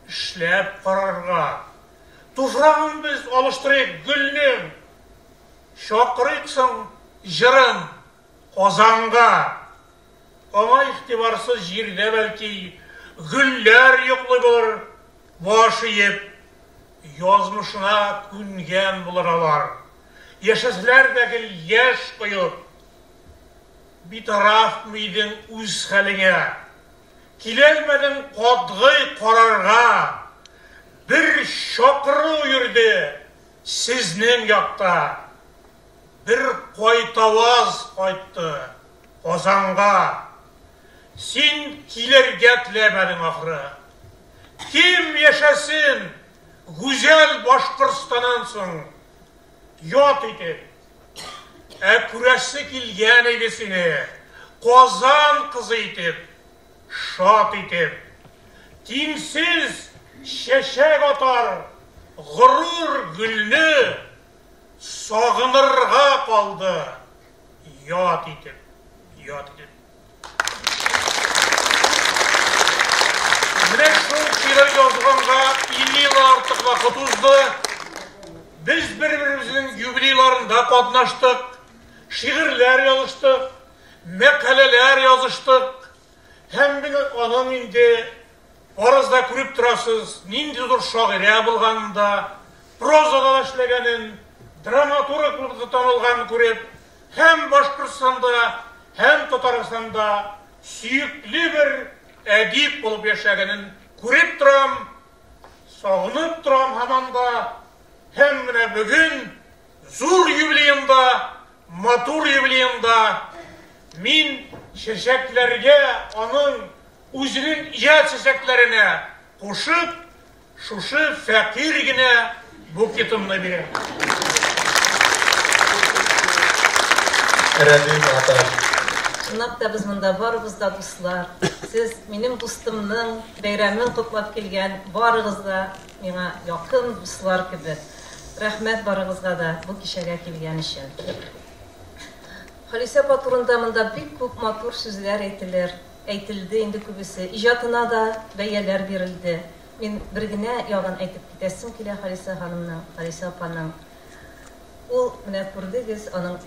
эшләп карарга. Туфрагын без алыштырыйк гөлнең. Чакырыйк соң җырын Казанга. Аңа игътибарсыз җирдә, бәлки, гөлләр йоклый булыр, баш иеп, язмышына күнгән булыр алар, яшәсәләр дә гел яшь коеп. Битарафмы идең үз хәлеңә? Киләлмәдең катгый карарга, бер чакыру йөрде сезнең якта, бер кайтаваз кайтты. Казанга. Син килергә теләмәдең, ахры. Кем яшәсен гүзәл Башкортстаннан соң ят итеп? Ә күрәсе килгән иде сине Казан кызы итеп, шат итеп. Тиңсез чәчәк атар горур гөлне сагынырга калды. Ят итеп, ят итеп. Менә шул шигырь язганга 50 ел артык вакыт узды. Без бер-беребезнең юбилейларында катнаштык, шигырьләр языштык, мәкаләләр языштык. Һәм бит аның инде барыгыз да күреп торасыз, нинди зур шагыйрә булганын да, прозада да эшләгәнен, драматург булып да танылганын күреп, һәм Башкортстанда, һәм Татарстанда сөекле бер әдип булып яшәгәнен күреп торам, сагынып торам һаман да. Һәм менә бүген зур юбилеенда Матур юбилеемда мин чәчәкләргә аның үзенең иҗат чәчәкләренә кушып, шушы фәкыйрь генә букетымны бирәм. Рәдим Аташ. Чынлап та без монда барыбыз да дуслар. Сез минем дустымның бәйрәмен котлап килгән барыгыз да Миңа якын дуслар кебек. Рәхмәт барыгызга да бу кичәгә килгән өчен. Халисә апа турында монда бик күп матур сүзләр әйтелер, әйтелде инде күбесе. Иҗатына да бәяләр бирелде. Мин бер генә ягын әйтеп китәсем килә Халисә ханымның, Халисә апаның. Ул, менә күрдегез, аның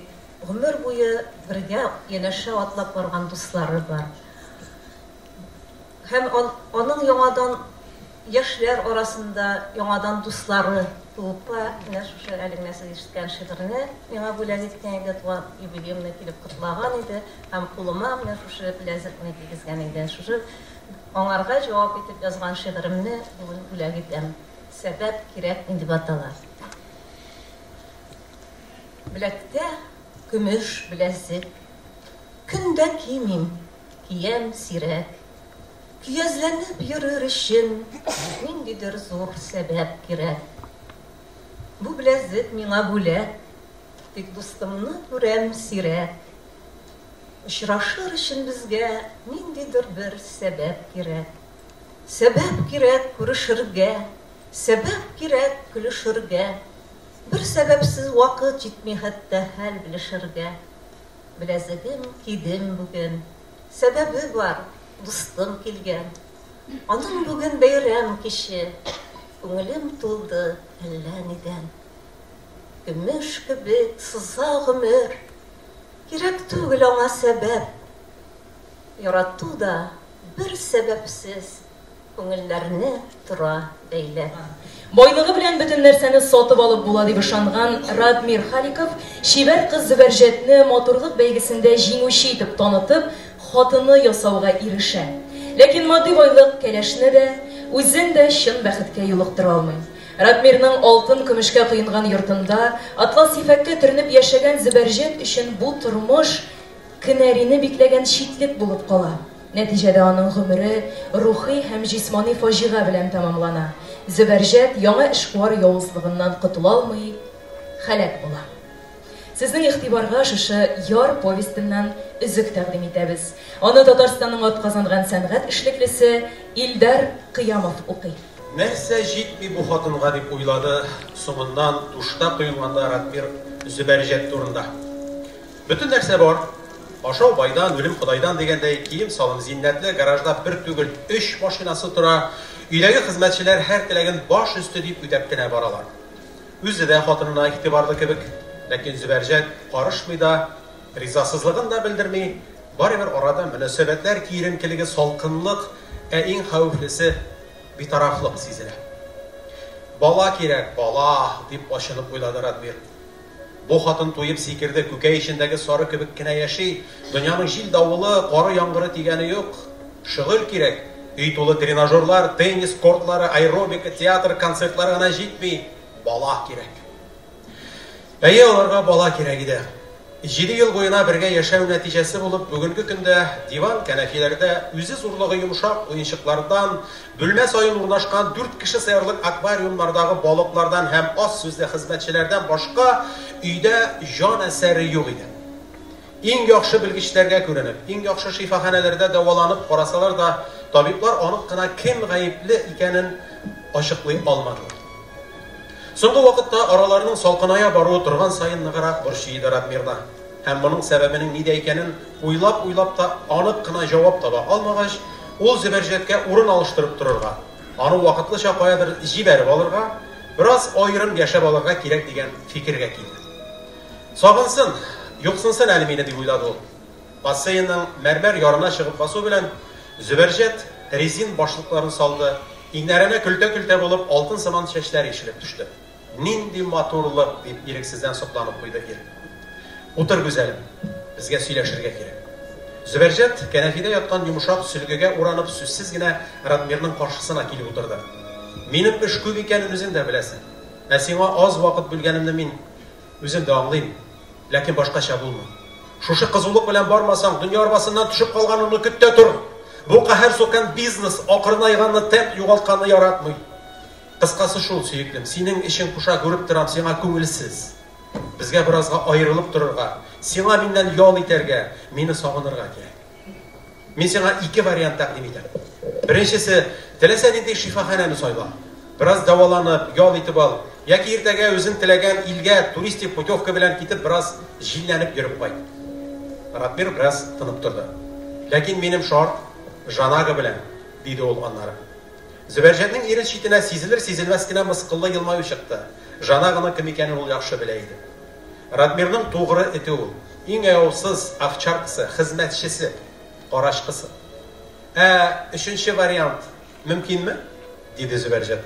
гомер буе бергә янәшә атлап барган дуслары бар. Һәм аның яңадан яшьләр арасында яңадан дуслары туып та, менә шушы әле генә сез ишеткән шигырьне миңа бүләк иткән иде, туган юбилеемны килеп котлаган иде һәм кулыма менә шушы беләзекне кигезгән иде. Шушы аңарга җавап итеп язган шигыремне бүген бүләк итәм. Сәбәп кирәк инде батала. Беләктә көмеш беләзек. Көн дә кимим, Киям сирәк. Көязләнеп йөрер өчен ниндидер зур сәбәп кирәк. Бу беләзек миңа бүләк, тик дустымны күрәм сирәк. Очрашыр өчен безгә ниндидер бер сәбәп кирәк. Сәбәп кирәк күрешергә, сәбәп кирәк көлешергә. Бер сәбәпсез вакыт җитми хәтта хәл белешергә. Беләзегем кидем бүген, сәбәбе бар, дустым килгән. Аның бүген бәйрәм киче, күңелем тулды әллә нидән. Көмеш кебек сыза гомер, кирәк түгел аңа сәбәп. Ярату да бер сәбәпсез Күңелләрне тора бәйләп. Байлыгы белән бөтен нәрсәне сатып алып була дип ышанган Радмир Халиков чибәр кыз Зөбәрҗәтне матурлык бәйгесендә җиңүче итеп танытып, хатыны ясауга ирешә. Ләкин матди байлык кәләшне дә, үзен дә чын бәхеткә юлыктыра алмый. Радмирның алтын-көмешкә коенган йортында атлас ефәккә төренеп яшәгән Зөбәрҗәт өчен бу тормыш кенәрине бикләгән читлек булып кала. Нәтиҗәдә аның гомере рухи һәм җисмани фаҗига белән тәмамлана, Зөбәрҗәт яңа эшкуар явызлыгыннан котыла алмый, һәлак була. Сезнең игътибарга шушы Яр повестеннан өзек тәкъдим итәбез. Аны Татарстанның атказанган сәнгать эшлеклесе Илдар Кыямов укый. Нәрсә җитми бу хатынга, дип уйлады соңыннан Тушта коелганда Радмир Зөбәрҗәт турында. Бөтен нәрсә бар. Ашау байдан, үлем Ходайдан дигәндәй, кием-салым, зиннәтле гаражда бер түгел, өч машинасы тора. Өйдәге хезмәтчеләр һәр теләген баш өсте дип үтәп кенә баралар. Үзе дә хатынына игътибарлы кебек, ләкин Зөбәрҗәт карышмый да, ризасызлыгын да белдерми. Барыбер арада мөнәсәбәтләр киеренкелеге, салкынлык, ә иң хәвефлесе, битарафлык сизелә. Бала кирәк, бала! дип ачынып уйлады Радмир. Бу хатын туеп сикерде, күкәй эчендәге сары кебек кенә яши, дөньяның җил-давылы, коры-яңгыры тигәне юк. Шөгыль кирәк. Өй тулы тренажерлар, теннис кортлары, аэробика, театр, концертлар гына җитми, бала кирәк. Әйе, аларга бала кирәк иде. Җиде ел буена бергә яшәү нәтиҗәсе булып, бүгенге көндә диван-кәнәфиләрдә, үзе зурлыгы йомшак уенчыклардан, Бүлмә саен урнашкан дүрт кеше сыярлык аквариумнардагы балыклардан һәм аз сүзле хезмәтчеләрдән башка өйдә җан әсәре юк иде. Иң яхшы белгечләргә күренеп, иң яхшы шифаханәләрдә дәваланып карасалар да, табиблар анык кына кем гаепле икәнен ачыклый алмадылар. Соңгы вакытта араларның салкыная баруы торган саен ныграк борчый иде Радмирны. Һәм моның сәбәбенең нидә икәнен уйлап-уйлап та анык кына җавап таба алмагач, ул Зөбәрҗәткә урын алыштырып торырга, аны вакытлыча каядыр җибәреп алырга, бераз аерым яшәп алырга кирәк дигән фикергә килде. Сагынсын, юксынсын әле мине, дип уйлады ул. Бассейнның мәрмәр ярына чыгып басу белән, Зөбәрҗәт резин башлыкларын салды, иңнәренә көлтә-көлтә булып алтын сыман чәчләр ишелеп төште. Нинди матурлык! дип ирексездән сокланып куйды ир. Утыр, гүзәлем, безгә сөйләшергә кирәк. Зөбәрҗәт, кәнәфидә яткан йомшак сөлгегә уранып, сүзсез генә Радмирның каршысына килеп утырды. Минем эш күп икәнен үзең дә беләсең. Ә сиңа аз вакыт бүлгәнемне мин үзем дә аңлыйм. Ләкин башкача булмый. Шушы кызулык белән бармасаң, дөнья арбасыннан төшеп калганыңны көт тә тор! Бу каһәр сукан бизнес акрынайганны, темп югалтканны яратмый. Кыскасы шул, сөеклем, синең эчең поша, күреп торам, сиңа күңелсез. Безгә беразга аерылып торырга, сиңа миннән ял итәргә, мине сагынырга кирәк. Мин сиңа ике вариант тәкъдим итәм. Беренчесе, теләсә нинди шифаханәне сайла. Бераз дәваланып, ял итеп ал. Яки иртәгә үзең теләгән илгә туристик путевка белән китеп, бераз җилләнеп йөреп кайт. Ратмир бераз тынып торды. Ләкин минем шарт Жанага белән, диде ул аннары. Зөбәрҗәтнең ирен читенә сизелер-сизелмәс кенә мыскыллы елмаю чыкты. Жан агының кем икәнен ул яхшы белә иде. Радмирның тугры эте ул. Иң аяусыз овчаркасы, хезмәтчесе, карачкысы. Ә өченче вариант мөмкинме? диде Зөбәрҗәт.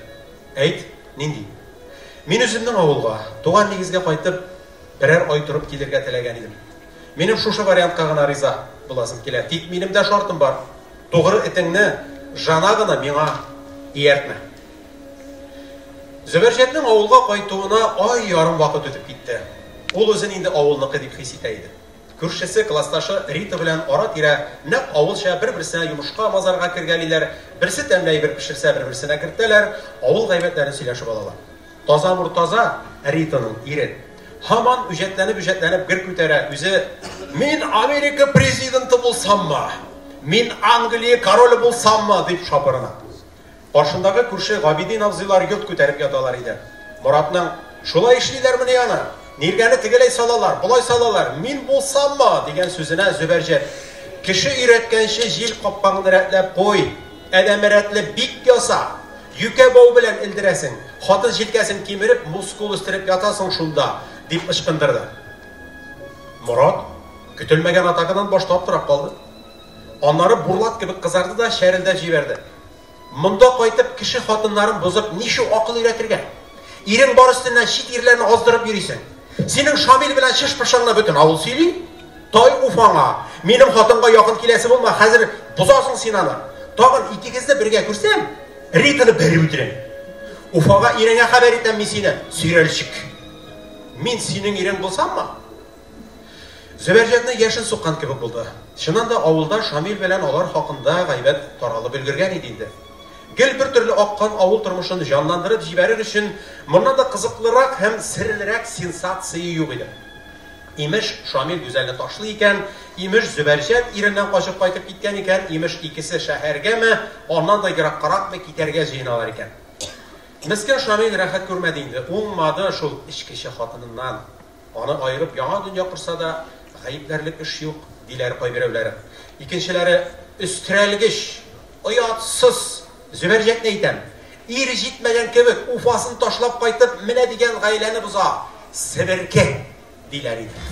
Әйт, нинди? Мин үземнең авылга, туган нигезгә кайтып, берәр ай торып килергә теләгән идем. Минем шушы вариантка гына риза буласым килә. Тик минем дә шартым бар. Тугры этеңне жана гына миңа ияртмә. Зөбәрҗәтнең авылга кайтуына ай ярым вакыт үтеп китте. Ул үзен инде авылныкы дип хис итә иде. Күршесе, классташы Рита белән ара-тирә нәкъ авылча бер-берсенә йомышка-мазарга кергәлиләр, берсе тәмле әйбер пешерсә, бер-берсенә кертәләр, авыл гайбәтләрен сөйләшеп алалар. Таза Мортаза, Ританың ире, һаман үҗәтләнеп-үҗәтләнеп гер күтәрә, үзе, Мин Америка президенты булсаммы? Мин Англия короле булсаммы? дип шапырына. Каршындагы күрше Габидин абзыйлар йорт күтәреп яталар иде. Моратның, Шулай эшлиләрмени аны? Ниргәне тегеләй салалар, болай салалар, мин булсаммы? дигән сүзенә Зөбәрҗәт, Кеше өйрәткәнче җил капкаңны рәтләп куй! Адәме рәтле бик яса! Юкә бау белән элдерәсең, хатын җилкәсен кимереп, мускул үстереп ятасың шунда! дип ычкындырды. Морат көтелмәгән атакадан баш таптырап калды. Аннары бурлат кебек кызарды да чәрелдәп җибәрде. Монда кайтып, кеше хатыннарын бозып, ничу акыл өйрәтергә? Ирең бар өстеннән чит ирләрне аздырып йөрисең! Синең Шамил белән чыш-пышыңны бөтен авыл сөйли. Тай, уф аңа! Минем хатынга якын киләсе булма, хәзер бозасың син аны. Тагын икегезне бергә күрсәм, Ританы бәреп үтерәм. Уфага иреңә хәбәр итәм мин сине, сөйрәлчек. Мин синең ирең булсаммы? Зөбәрҗәтне яшен суккан кебек булды. Чыннан да, авылда Шамил белән алар хакында гайбәт таралып өлгергән иде инде. Гел бер төрле аккан авыл тормышын җанландырып җибәрер өчен моннан да кызыклырак һәм серлерәк сенсация юк иде. Имеш, Шамил Гүзәлне ташлый икән, имеш, Зөбәрҗәт иреннән качып кайтып киткән икән, имеш, икесе шәһәргәме, аннан да ераккаракмы китәргә җыеналар икән. Мескен Шамил рәхәт күрмәде инде, уңмады шул эчкече хатыныннан. Аны аерып яңа дөнья корса да, гаепләрлек эш юк, диләр кайберәүләр. Икенчеләре, Өстерәлгеч, оятсыз! Зөбәрҗәтне әйтәм. Ир җитмәгән кебек, Уфасын ташлап кайтып, менә дигән гаиләне боза. Себерке! диләр иде.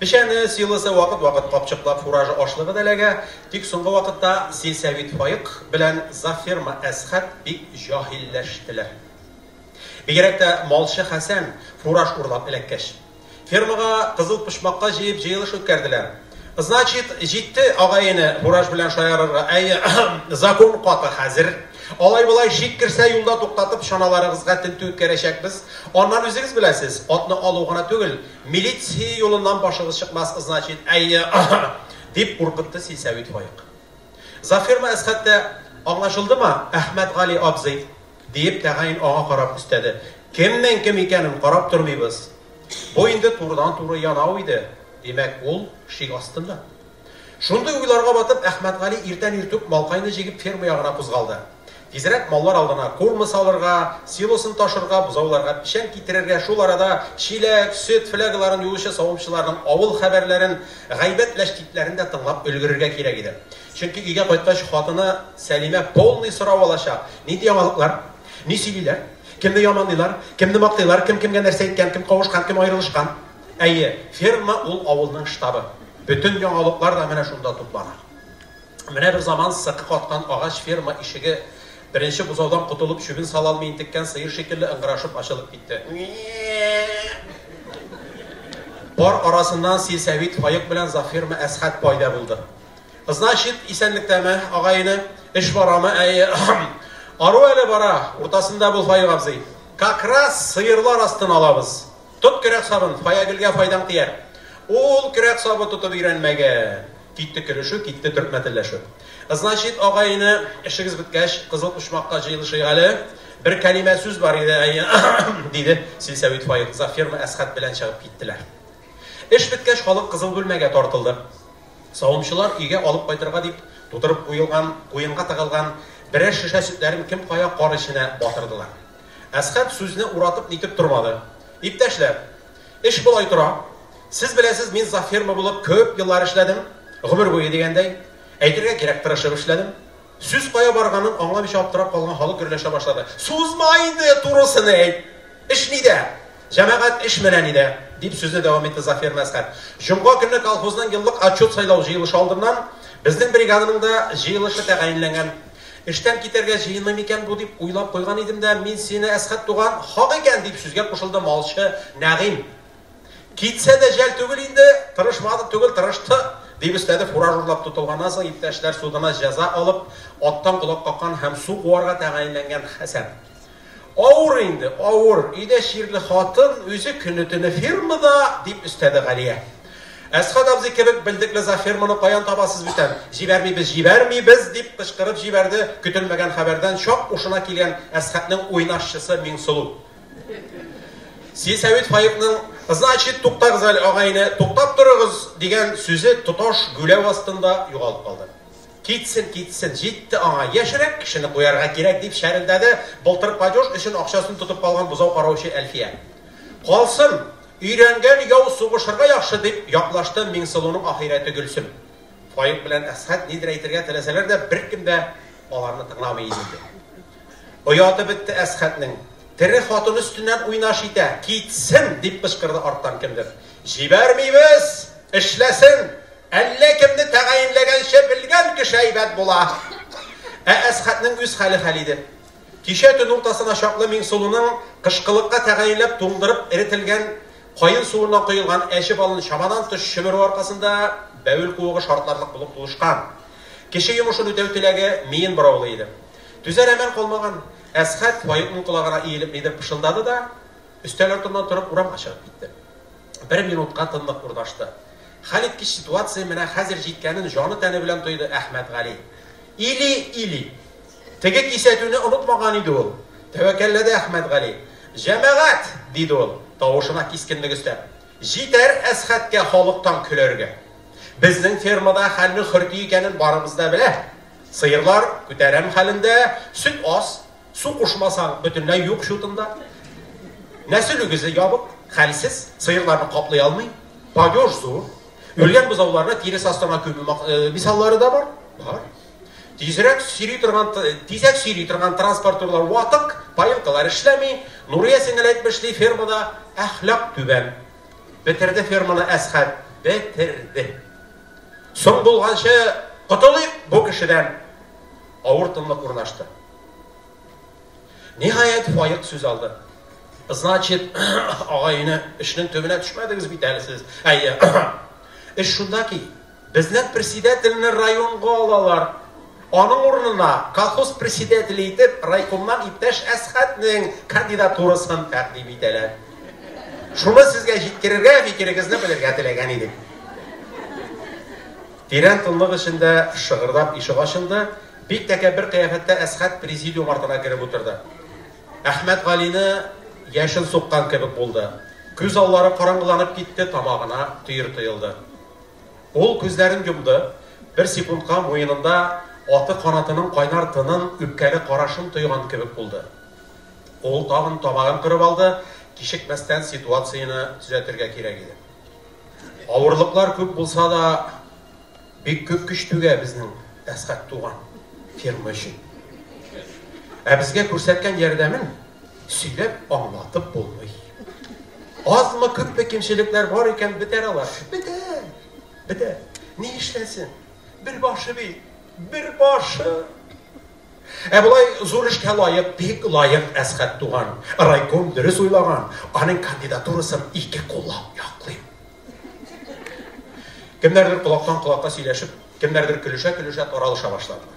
Печәне, силосы вакыт-вакыт капчыклап фуражы ашлыгы да эләгә, тик соңгы вакытта сельсовет Фаек белән завферма Әсхәт бик җаһилләштеләр. Бигрәк тә малчы Хәсән фураж урлап эләккәч. Фермага кызыл почмакка җыеп җыелыш үткәрделәр. Значит, җитте агаене фураж белән шаярырга, әйе, закон каты хәзер. Алай-болай шик керсә, юлда туктатып, чаналарыгызга тентү үткәрәчәкбез. Аннан үзегез беләсез, атны алу гына түгел, Милиция юлыннан башыгыз чыкмас, ызначит, әйе, аһа! дип куркытты силсәвит Фаек. Заферма Әсхәт тә, Аңлашылдымы, Әхмәтгали абзый? диеп, тәгаен аңа карап өстәде. Кемнең кем икәнен карап тормыйбыз. Бу инде турыдан-туры янау иде. Димәк, ул шик астында. Шундый уйларга батып, Әхмәтгали иртән иртүк малкайны җигеп ферма ягына кузгалды. Тизрәк маллар алдына корма салырга, силосын ташырга, бозауларга печән китерергә, шул арада чиләк, сөт флягаларын юучы савымчыларның авыл хәбәрләрен, гайбәт ләчтикләрен дә тыңлап өлгерергә кирәк иде. Чөнки өйгә кайткач, хатыны Сәлимә полный сорау алачак, нинди яңалыклар, ни сөйлиләр, кемне яманлыйлар, кемне мактыйлар, кем кемгә нәрсә әйткән, кем кавышкан, кем аерылышкан. Әйе, ферма ул авылның штабы. Бөтен яңалыклар да менә шунда туплана. Менә бер заман сыкы каткан агач ферма ишеге беренче бозаудан котылып чүбен сала алмый интеккән сыер шикелле ыңгырашып ачылып китте. Пар арасыннан сельсовет Фаек белән завферма Әсхәт пайда булды. Значит, исәнлектәме, агайны, эш барамы? Әйе. Ару әле бара, уртасында бул Фаек абзый. Как раз сыерлар астын алабыз. Тот көрәк сабын, Фаягөлгә файдаң тияр. Ул көрәк сабы тотып өйрәнмәгән. Китте көлешү, китте төркмәтелләшү. Значит, агай-эне, эшегез беткәч, Кызыл почмакка җыелышыйк әле. Бер кәлимә сүз бар иде, әйе, диде Силсәвит Фаил кызга. Ферма Әсхәт белән чыгып киттеләр. Эш беткәч, халык Кызыл бүлмәгә тартылды. Савымчылар өйгә алып кайтырга дип тутырып куелган, куенга тыгылган берәр шешә сөтләрен кем кая кар эченә батырдылар. Әсхәб сүзне уратып нитеп тормады. Иптәшләр, эш болай тора. Сез беләсез, мин завферма булып күп еллар эшләдем. Гомер буе дигәндәй. Әйтергә кирәк, тырышып эшләдем. Сүз кая барганын аңламыйча аптырап калган халык гөрләшә башлады. Сузма инде, турысын әйт! Эш нидә? Җәмәгать эш менә нидә! дип сүзне дәвам итте Зафер Мәсхәт. Җомга көнне колхозның еллык отчет сайлау җыелышы алдыннан безнең бригаданың да җыелышы тәгаенләнгән. Эштән китәргә җыенмый микән бу дип уйлап куйган идем дә, мин сине, Әсхәт туган, хак икән, дип сүзгә кушылды малчы Нәгыйм. Китсә дә жәл түгел инде, тырышмады түгел, тырышты, дип өстәде фураж урлап тотылганнан соң иптәшләр судына җәза алып, аттан колак каккан һәм су куарга тәгаенләнгән Хәсән. Авыр инде, авыр. Өйдә чирле хатын, үзе көне-төне фермада, дип өстәде Галия. Әсхат абзый кебек белдекле за ферманы каян табасыз бүтән? Җибәрмибез, җибәрмибез, дип кычкырып җибәрде көтелмәгән хәбәрдән чак ушына килгән Әсхатның уйнашчысы Миңсылу. Си Сәвит Фаикның Значит, туктагыз әле, агайне, туктап торыгыз, дигән сүзе тоташ гүләү астында югалып калды. Китсен, китсен, җитте аңа, яшьрәк кешене куярга кирәк, дип чәрелдәде былтыр падеж өчен акчасын тотып калган бозау караучы Әлфия. Калсын, өйрәнгән яу сугышырга яхшы, дип яклашты Миңсылуның ахирәте Гөлсем. Фаик белән Әсхәт нидер әйтергә теләсәләр дә, беркем дә аларны тыңламый иде инде. Ояты бетте Әсхәтнең. Тере хатын өстеннән уйнаш итә! Китсен! дип кычкырды арттан кемдер. Җибәрмибез! Эшләсен! Әллә кемне тәгаенләгәнче белгән кеше әйбәт була! Ә Әсхәтнең үз хәле хәл иде. Кичә төн уртасына чаклы Миңсылуның кышкылыкка тәгаенләп туңдырып эретелгән каен суыннан коелган әче балын чамадан тыш чөмерү аркасында бәвел куыгы шартларлык булып тулышкан. Кеше йомышын үтәү теләге миен бораулый иде. Түзәр әмәл калмаган Әсхәт Фаикның колагына иелеп нидер пышылдады да, өстәл артыннан торып урамга чыгып китте. Бер минутка тынлык урнашты. Хәлиткеч ситуация менә хәзер җиткәнен җаны-тәне белән тойды Әхмәтгали. Или, или. Теге кисәтүне онытмаган иде ул. Тәвәккәлләде Әхмәтгали. Җәмәгать! диде ул, тавышына кискенлек өстәп. Җитәр Әсхәткә халыктан көләргә. Безнең фермада хәлнең хөрти икәнен барыбыз да белә. Сыерлар күтәрәм хәлендә, сөт аз, су кушмасаң, бөтенләй юк чутында. Нәсел үгезе ябык, хәлсез, сыерларны каплый алмый, падеж зур. Үлгән бозауларны тирес астына күмү э, мисаллары да бар. Бар. Тизрәк сөйри торган тизәк сөйри торган транспортерлар ватык, поилкалар эшләми. Нурия сеңел әйтмешли, фермада әхлак түбән. Бетерде ферманы Әсхәт, бетерде. Соң булганчы котылыйк бу кешедән! Авыр тынлык урнашты. Ниһаять, Фаек сүз алды. Значит, агай-эне, эшнең төбенә төшмәдегез бит әле сез. Әйе. Эш шунда ки, безнең председательне районга алалар. Аның урынына колхоз председателе итеп райкомнан иптәш Әсхәтнең кандидатурасын тәкъдим итәләр. Шуны сезгә җиткерергә, фикерегезне белергә теләгән идек. Тирән тынлык эчендә шыгырдап ишек ачылды. Бик тәкә бер кыяфәттә Әсхәт президиум артына кереп утырды. Әхмәт Галины яшен суккан кебек булды. Күз аллары караңгыланып китте, тамагына төер тоелды. Ул күзләрен йомды, бер секундка муенында аты канатының кайнар тынын, үпкәле карашын тойган кебек булды. Ул тагын тамагын кырып алды, кичекмәстән ситуацияне төзәтергә кирәк иде. Авырлыклар күп булса да, бик күп көч түгә безнең Әсхәт туган фирма өчен. Ә безгә күрсәткән ярдәмен Сөйләп аңлатып булмый. Азмы күпме кимчелекләр бар икән бетәр алар. Бетәр. Бетәр. Ни эшләсен? Бер башы бит. Бер башы. Ә болай зур эшкә лаек, бик лаек Әсхәт туган. Райком дөрес уйлаган. Аның кандидатурасын ике куллап яклыйм. Кемнәрдер колактан колакка сөйләшеп, кемнәрдер көлешә-көлешә таралыша башладылар.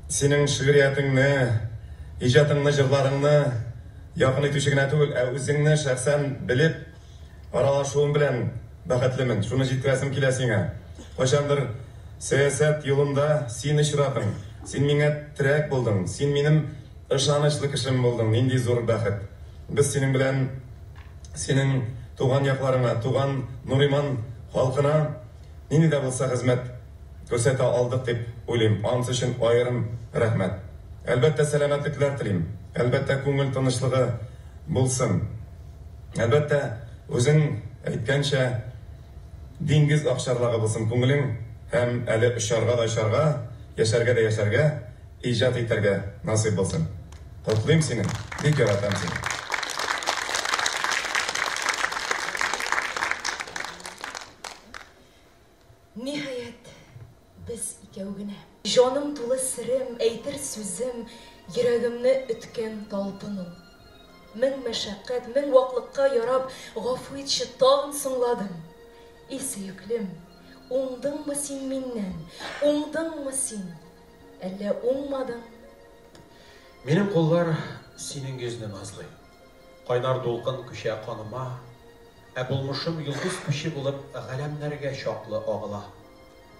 Синең шигъриятеңне, иҗатыңны, җырларыңны якын итүче генә түгел, ә үзеңне шәхсән белеп, аралашуым белән бәхетлемен. Шуны җиткерәсем килә сиңа. Кайчандыр сәясәт юлында син очрадың, син миңа терәк булдың, син минем ышанычлы кешем булдың. Нинди зур бәхет! Без синең белән синең туган якларыңа, туган Нуриман халкына нинди дә булса хезмәт күрсәтә алдык дип уйлыйм, анысы өчен аерым рәхмәт. Әлбәттә, сәламәтлекләр телим, әлбәттә, күңел тынычлыгы булсын, әлбәттә, үзең әйткәнчә, диңгез акчарлагы булсын күңелең һәм әле очарга да очарга, яшәргә дә яшәргә, иҗат итәргә насыйп булсын. Котлыйм сине, бик яратам сине. Ниһаять, без икәү генә. Җаным тулы серем, әйтер сүзем, Йөрәгемне өткән талпын ул. Мең мәшәкать, мең ваклыкка ярап, Гафу итче, тагын соңладым. И сөеклем, уңдыңмы син миннән, Уңдыңмы син, әллә уңмадың? Минем куллар синең йөзне назлый. Кайнар дулкын күчә каныма, Ә булмышым йолдыз күче булып Галәмнәргә чаклы агыла.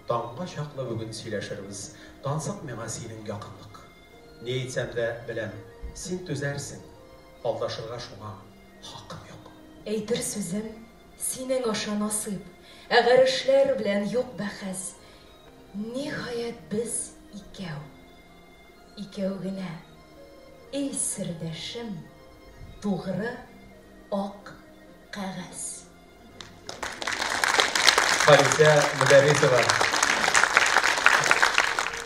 Таңга чаклы бүген сөйләшербез, Тансык миңа синең якынлык. Ни әйтсәм дә, беләм, син түзәрсең, Алдашырга шуңа хакым юк. Әйтер сүзем, синең аша насыйп, Ә гарешләр белән юк бәхәс. Ниһаять, без икәү. Икәү генә, эй сердәшем, тугры ак кәгазь. Халисә Мөдәррисова.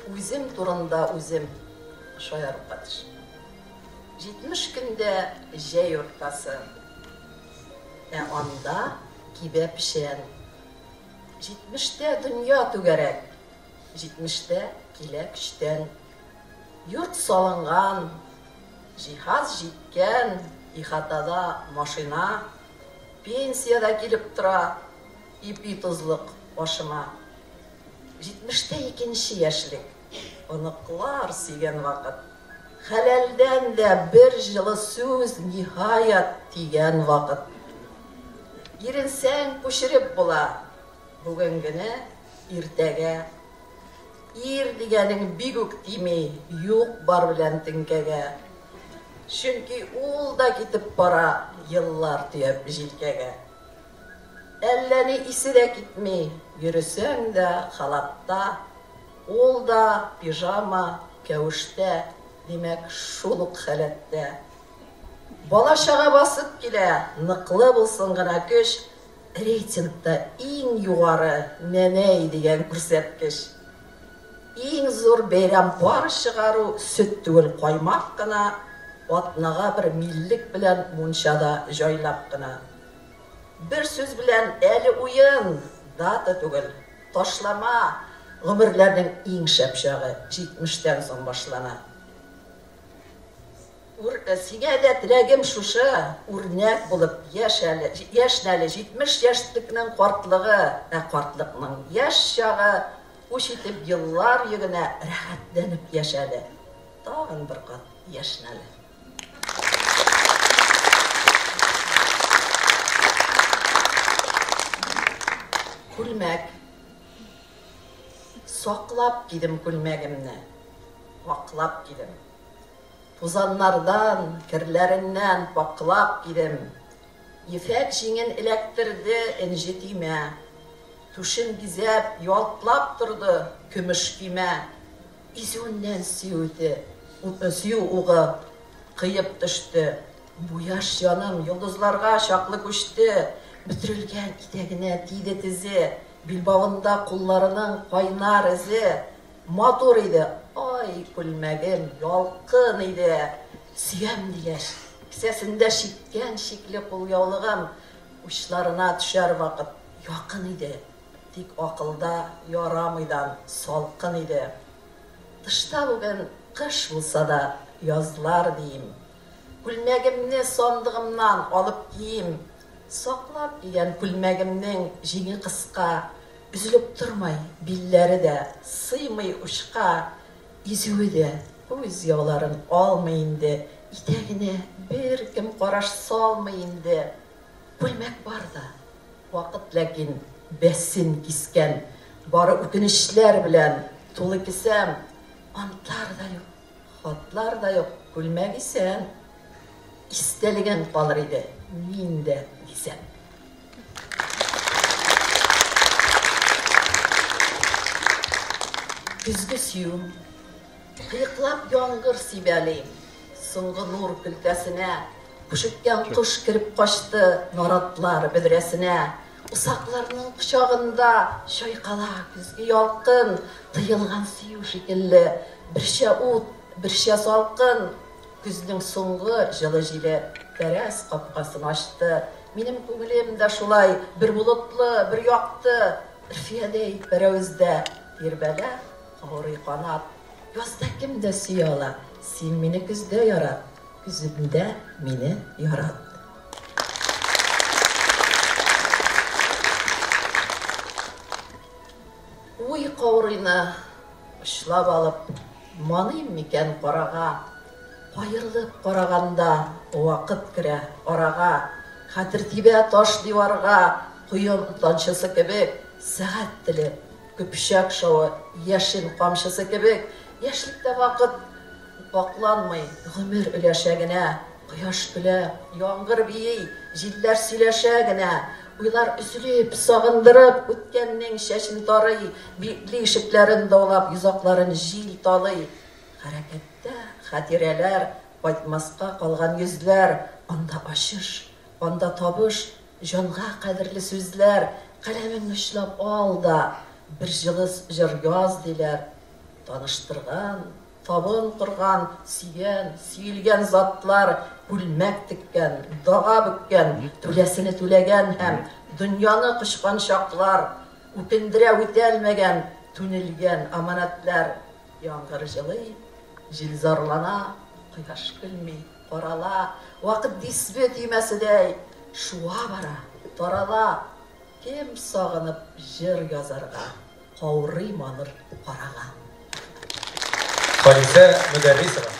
Үзем турында үзем шаярырга тешмим. Җитмеш көндә җәй уртасы. Ә анда кибә печән. Җитмештә дөнья түгәрәк. җитмештә килә көчтән. Йорт салынган, җиһаз җиткән, ихатада машина, пенсия дә килеп тора, ипи тозлык башыма. Җитмештә икенче яшьлек, оныклар сөйгән вакыт. Хәләлдән дә бер җылы сүз, ниһаять, тигән вакыт. Иренсәң, күчереп була. Бүгенгене иртәгә Ир дигәнең бик үк тими Юк-бар белән теңкәгә. Чөнки ул да китеп бара Еллар төяп җилкәгә. Әллә ни исе дә китми, Йөресәң дә халатта, Ул да пижама, кәвештә, Димәк, шул ук халәттә. Бала-чага басып килә, Ныклы булсын гына көч, Рейтингта иң югары Нәнәй дигән күрсәткеч. Иң зур бәйрәм пар чыгару, сөт түгел, каймак кына, атнага бер миллек белән мунчада җайлап кына. Бер сүз белән, әле уен, дата түгел, ташлама, гомерләрнең иң шәп чагы, җитмештән соң башлана. Ур, сиңә дә теләгем шушы, үрнәк булып яшь әле, яшн әле, 70 яшьтекнең картлыгы, ә картлыкның яшь чагы уч итеп еллар йөгенә рәхәтләнеп яшь әле, тагын бер кат яшн әле. Күлмәк. Саклап кидем күлмәгемне, ваклап кидем. Тузаннардан, керләреннән пакълап кидем. Ефәк җиңен эләктерде энҗе төймә. Түшен бизәп, ялтлап торды көмеш көймә. Изүеннән сөю угы кыеп төште. Бу яшь җаным йолдызларга чаклы күчте. Бөтерелгән итәгенә тиде тезе. Билбавында кулларының кайнар эзе. Матур иде, ай, күлмәгем, ялкын иде, сөям, дигәч, кесәсендә чиккән чикле кулъяулыгым учларына төшәр вакыт якын иде, тик акылда ярамыйдан салкын иде. Тышта бүген кыш булса да, язлар, диим. Күлмәгемне сандыгымнан алып киим. Саклап кигән күлмәгемнең җиңе кыска, өзелеп тормый, билләре дә сыймый учка, изүе дә күз яуларын алмый инде, итәгенә беркем караш салмый инде. Күлмәк бар да, вакыт ләкин бәсен кискән, бары үкенечләр белән тулы кесәм, антлар да юк. Хатлар да юк, күлмәк исән. Истәлеген калыр иде мин дә дисәм. Көзге сөю. Кыеклап яңгыр сибәли. Соңгы нур көлтәсенә. Күшеккән кош кереп качты наратлар бөдрәсенә. Усакларның кочагында чайкала көзге ялкын, Тыелган сөю шикелле, берчә ут, берчә салкын. Көзнең соңгы җылы җиле тәрәз капкасын ачты. Минем күңелем дә шулай бер болытлы, бер якты, Өрфиядәй пәрәвездә тирбәлә, каурый канат. Язда кем дә сөя ала, син мине көздә ярат. Үзеңдә мине ярат. Уй каурыйны очлап алып Маныйм микән карага? Аерылып караганда Вакыт керә арага. Хәтер тибә таш диварга, Коен танчысы кебек, Сәгать теле, көпчәк шавы, Яшен камчысы кебек. Яшьлектә вакыт. Вакланмый гомер өләшә генә, Кояш көлә, яңгыр бии, җилләр сөйләшә генә. Уйлар өзелеп, сагындырып, үткәннең чәчен тарый, Битли ишекләрен даулап, йозакларын җил талый. Хәрәкәттә, хатирәләр, кайтмаска калган йөзләр, Анда ачыш, анда табыш, җанга кадерле сүзләр. Каләмең очлап ал да, бер җылы җыр яз, диләр. Таныштырган, Табын корган, сөйгән, сөелгән затлар күлмәк теккән, дага бөккән, түләсене түләгән һәм дөньяны кочкан чаклар, үкендерә үтәлмәгән, түнелгән аманәтләр. Яңгыр җылый, җил зарлана, кояш көлми, карала, вакыт дисбе төймәседәй шуа бара, тарала. Кем сагынып җыр язарга? Каурый балыр карага. Халисә Мөдәррисова.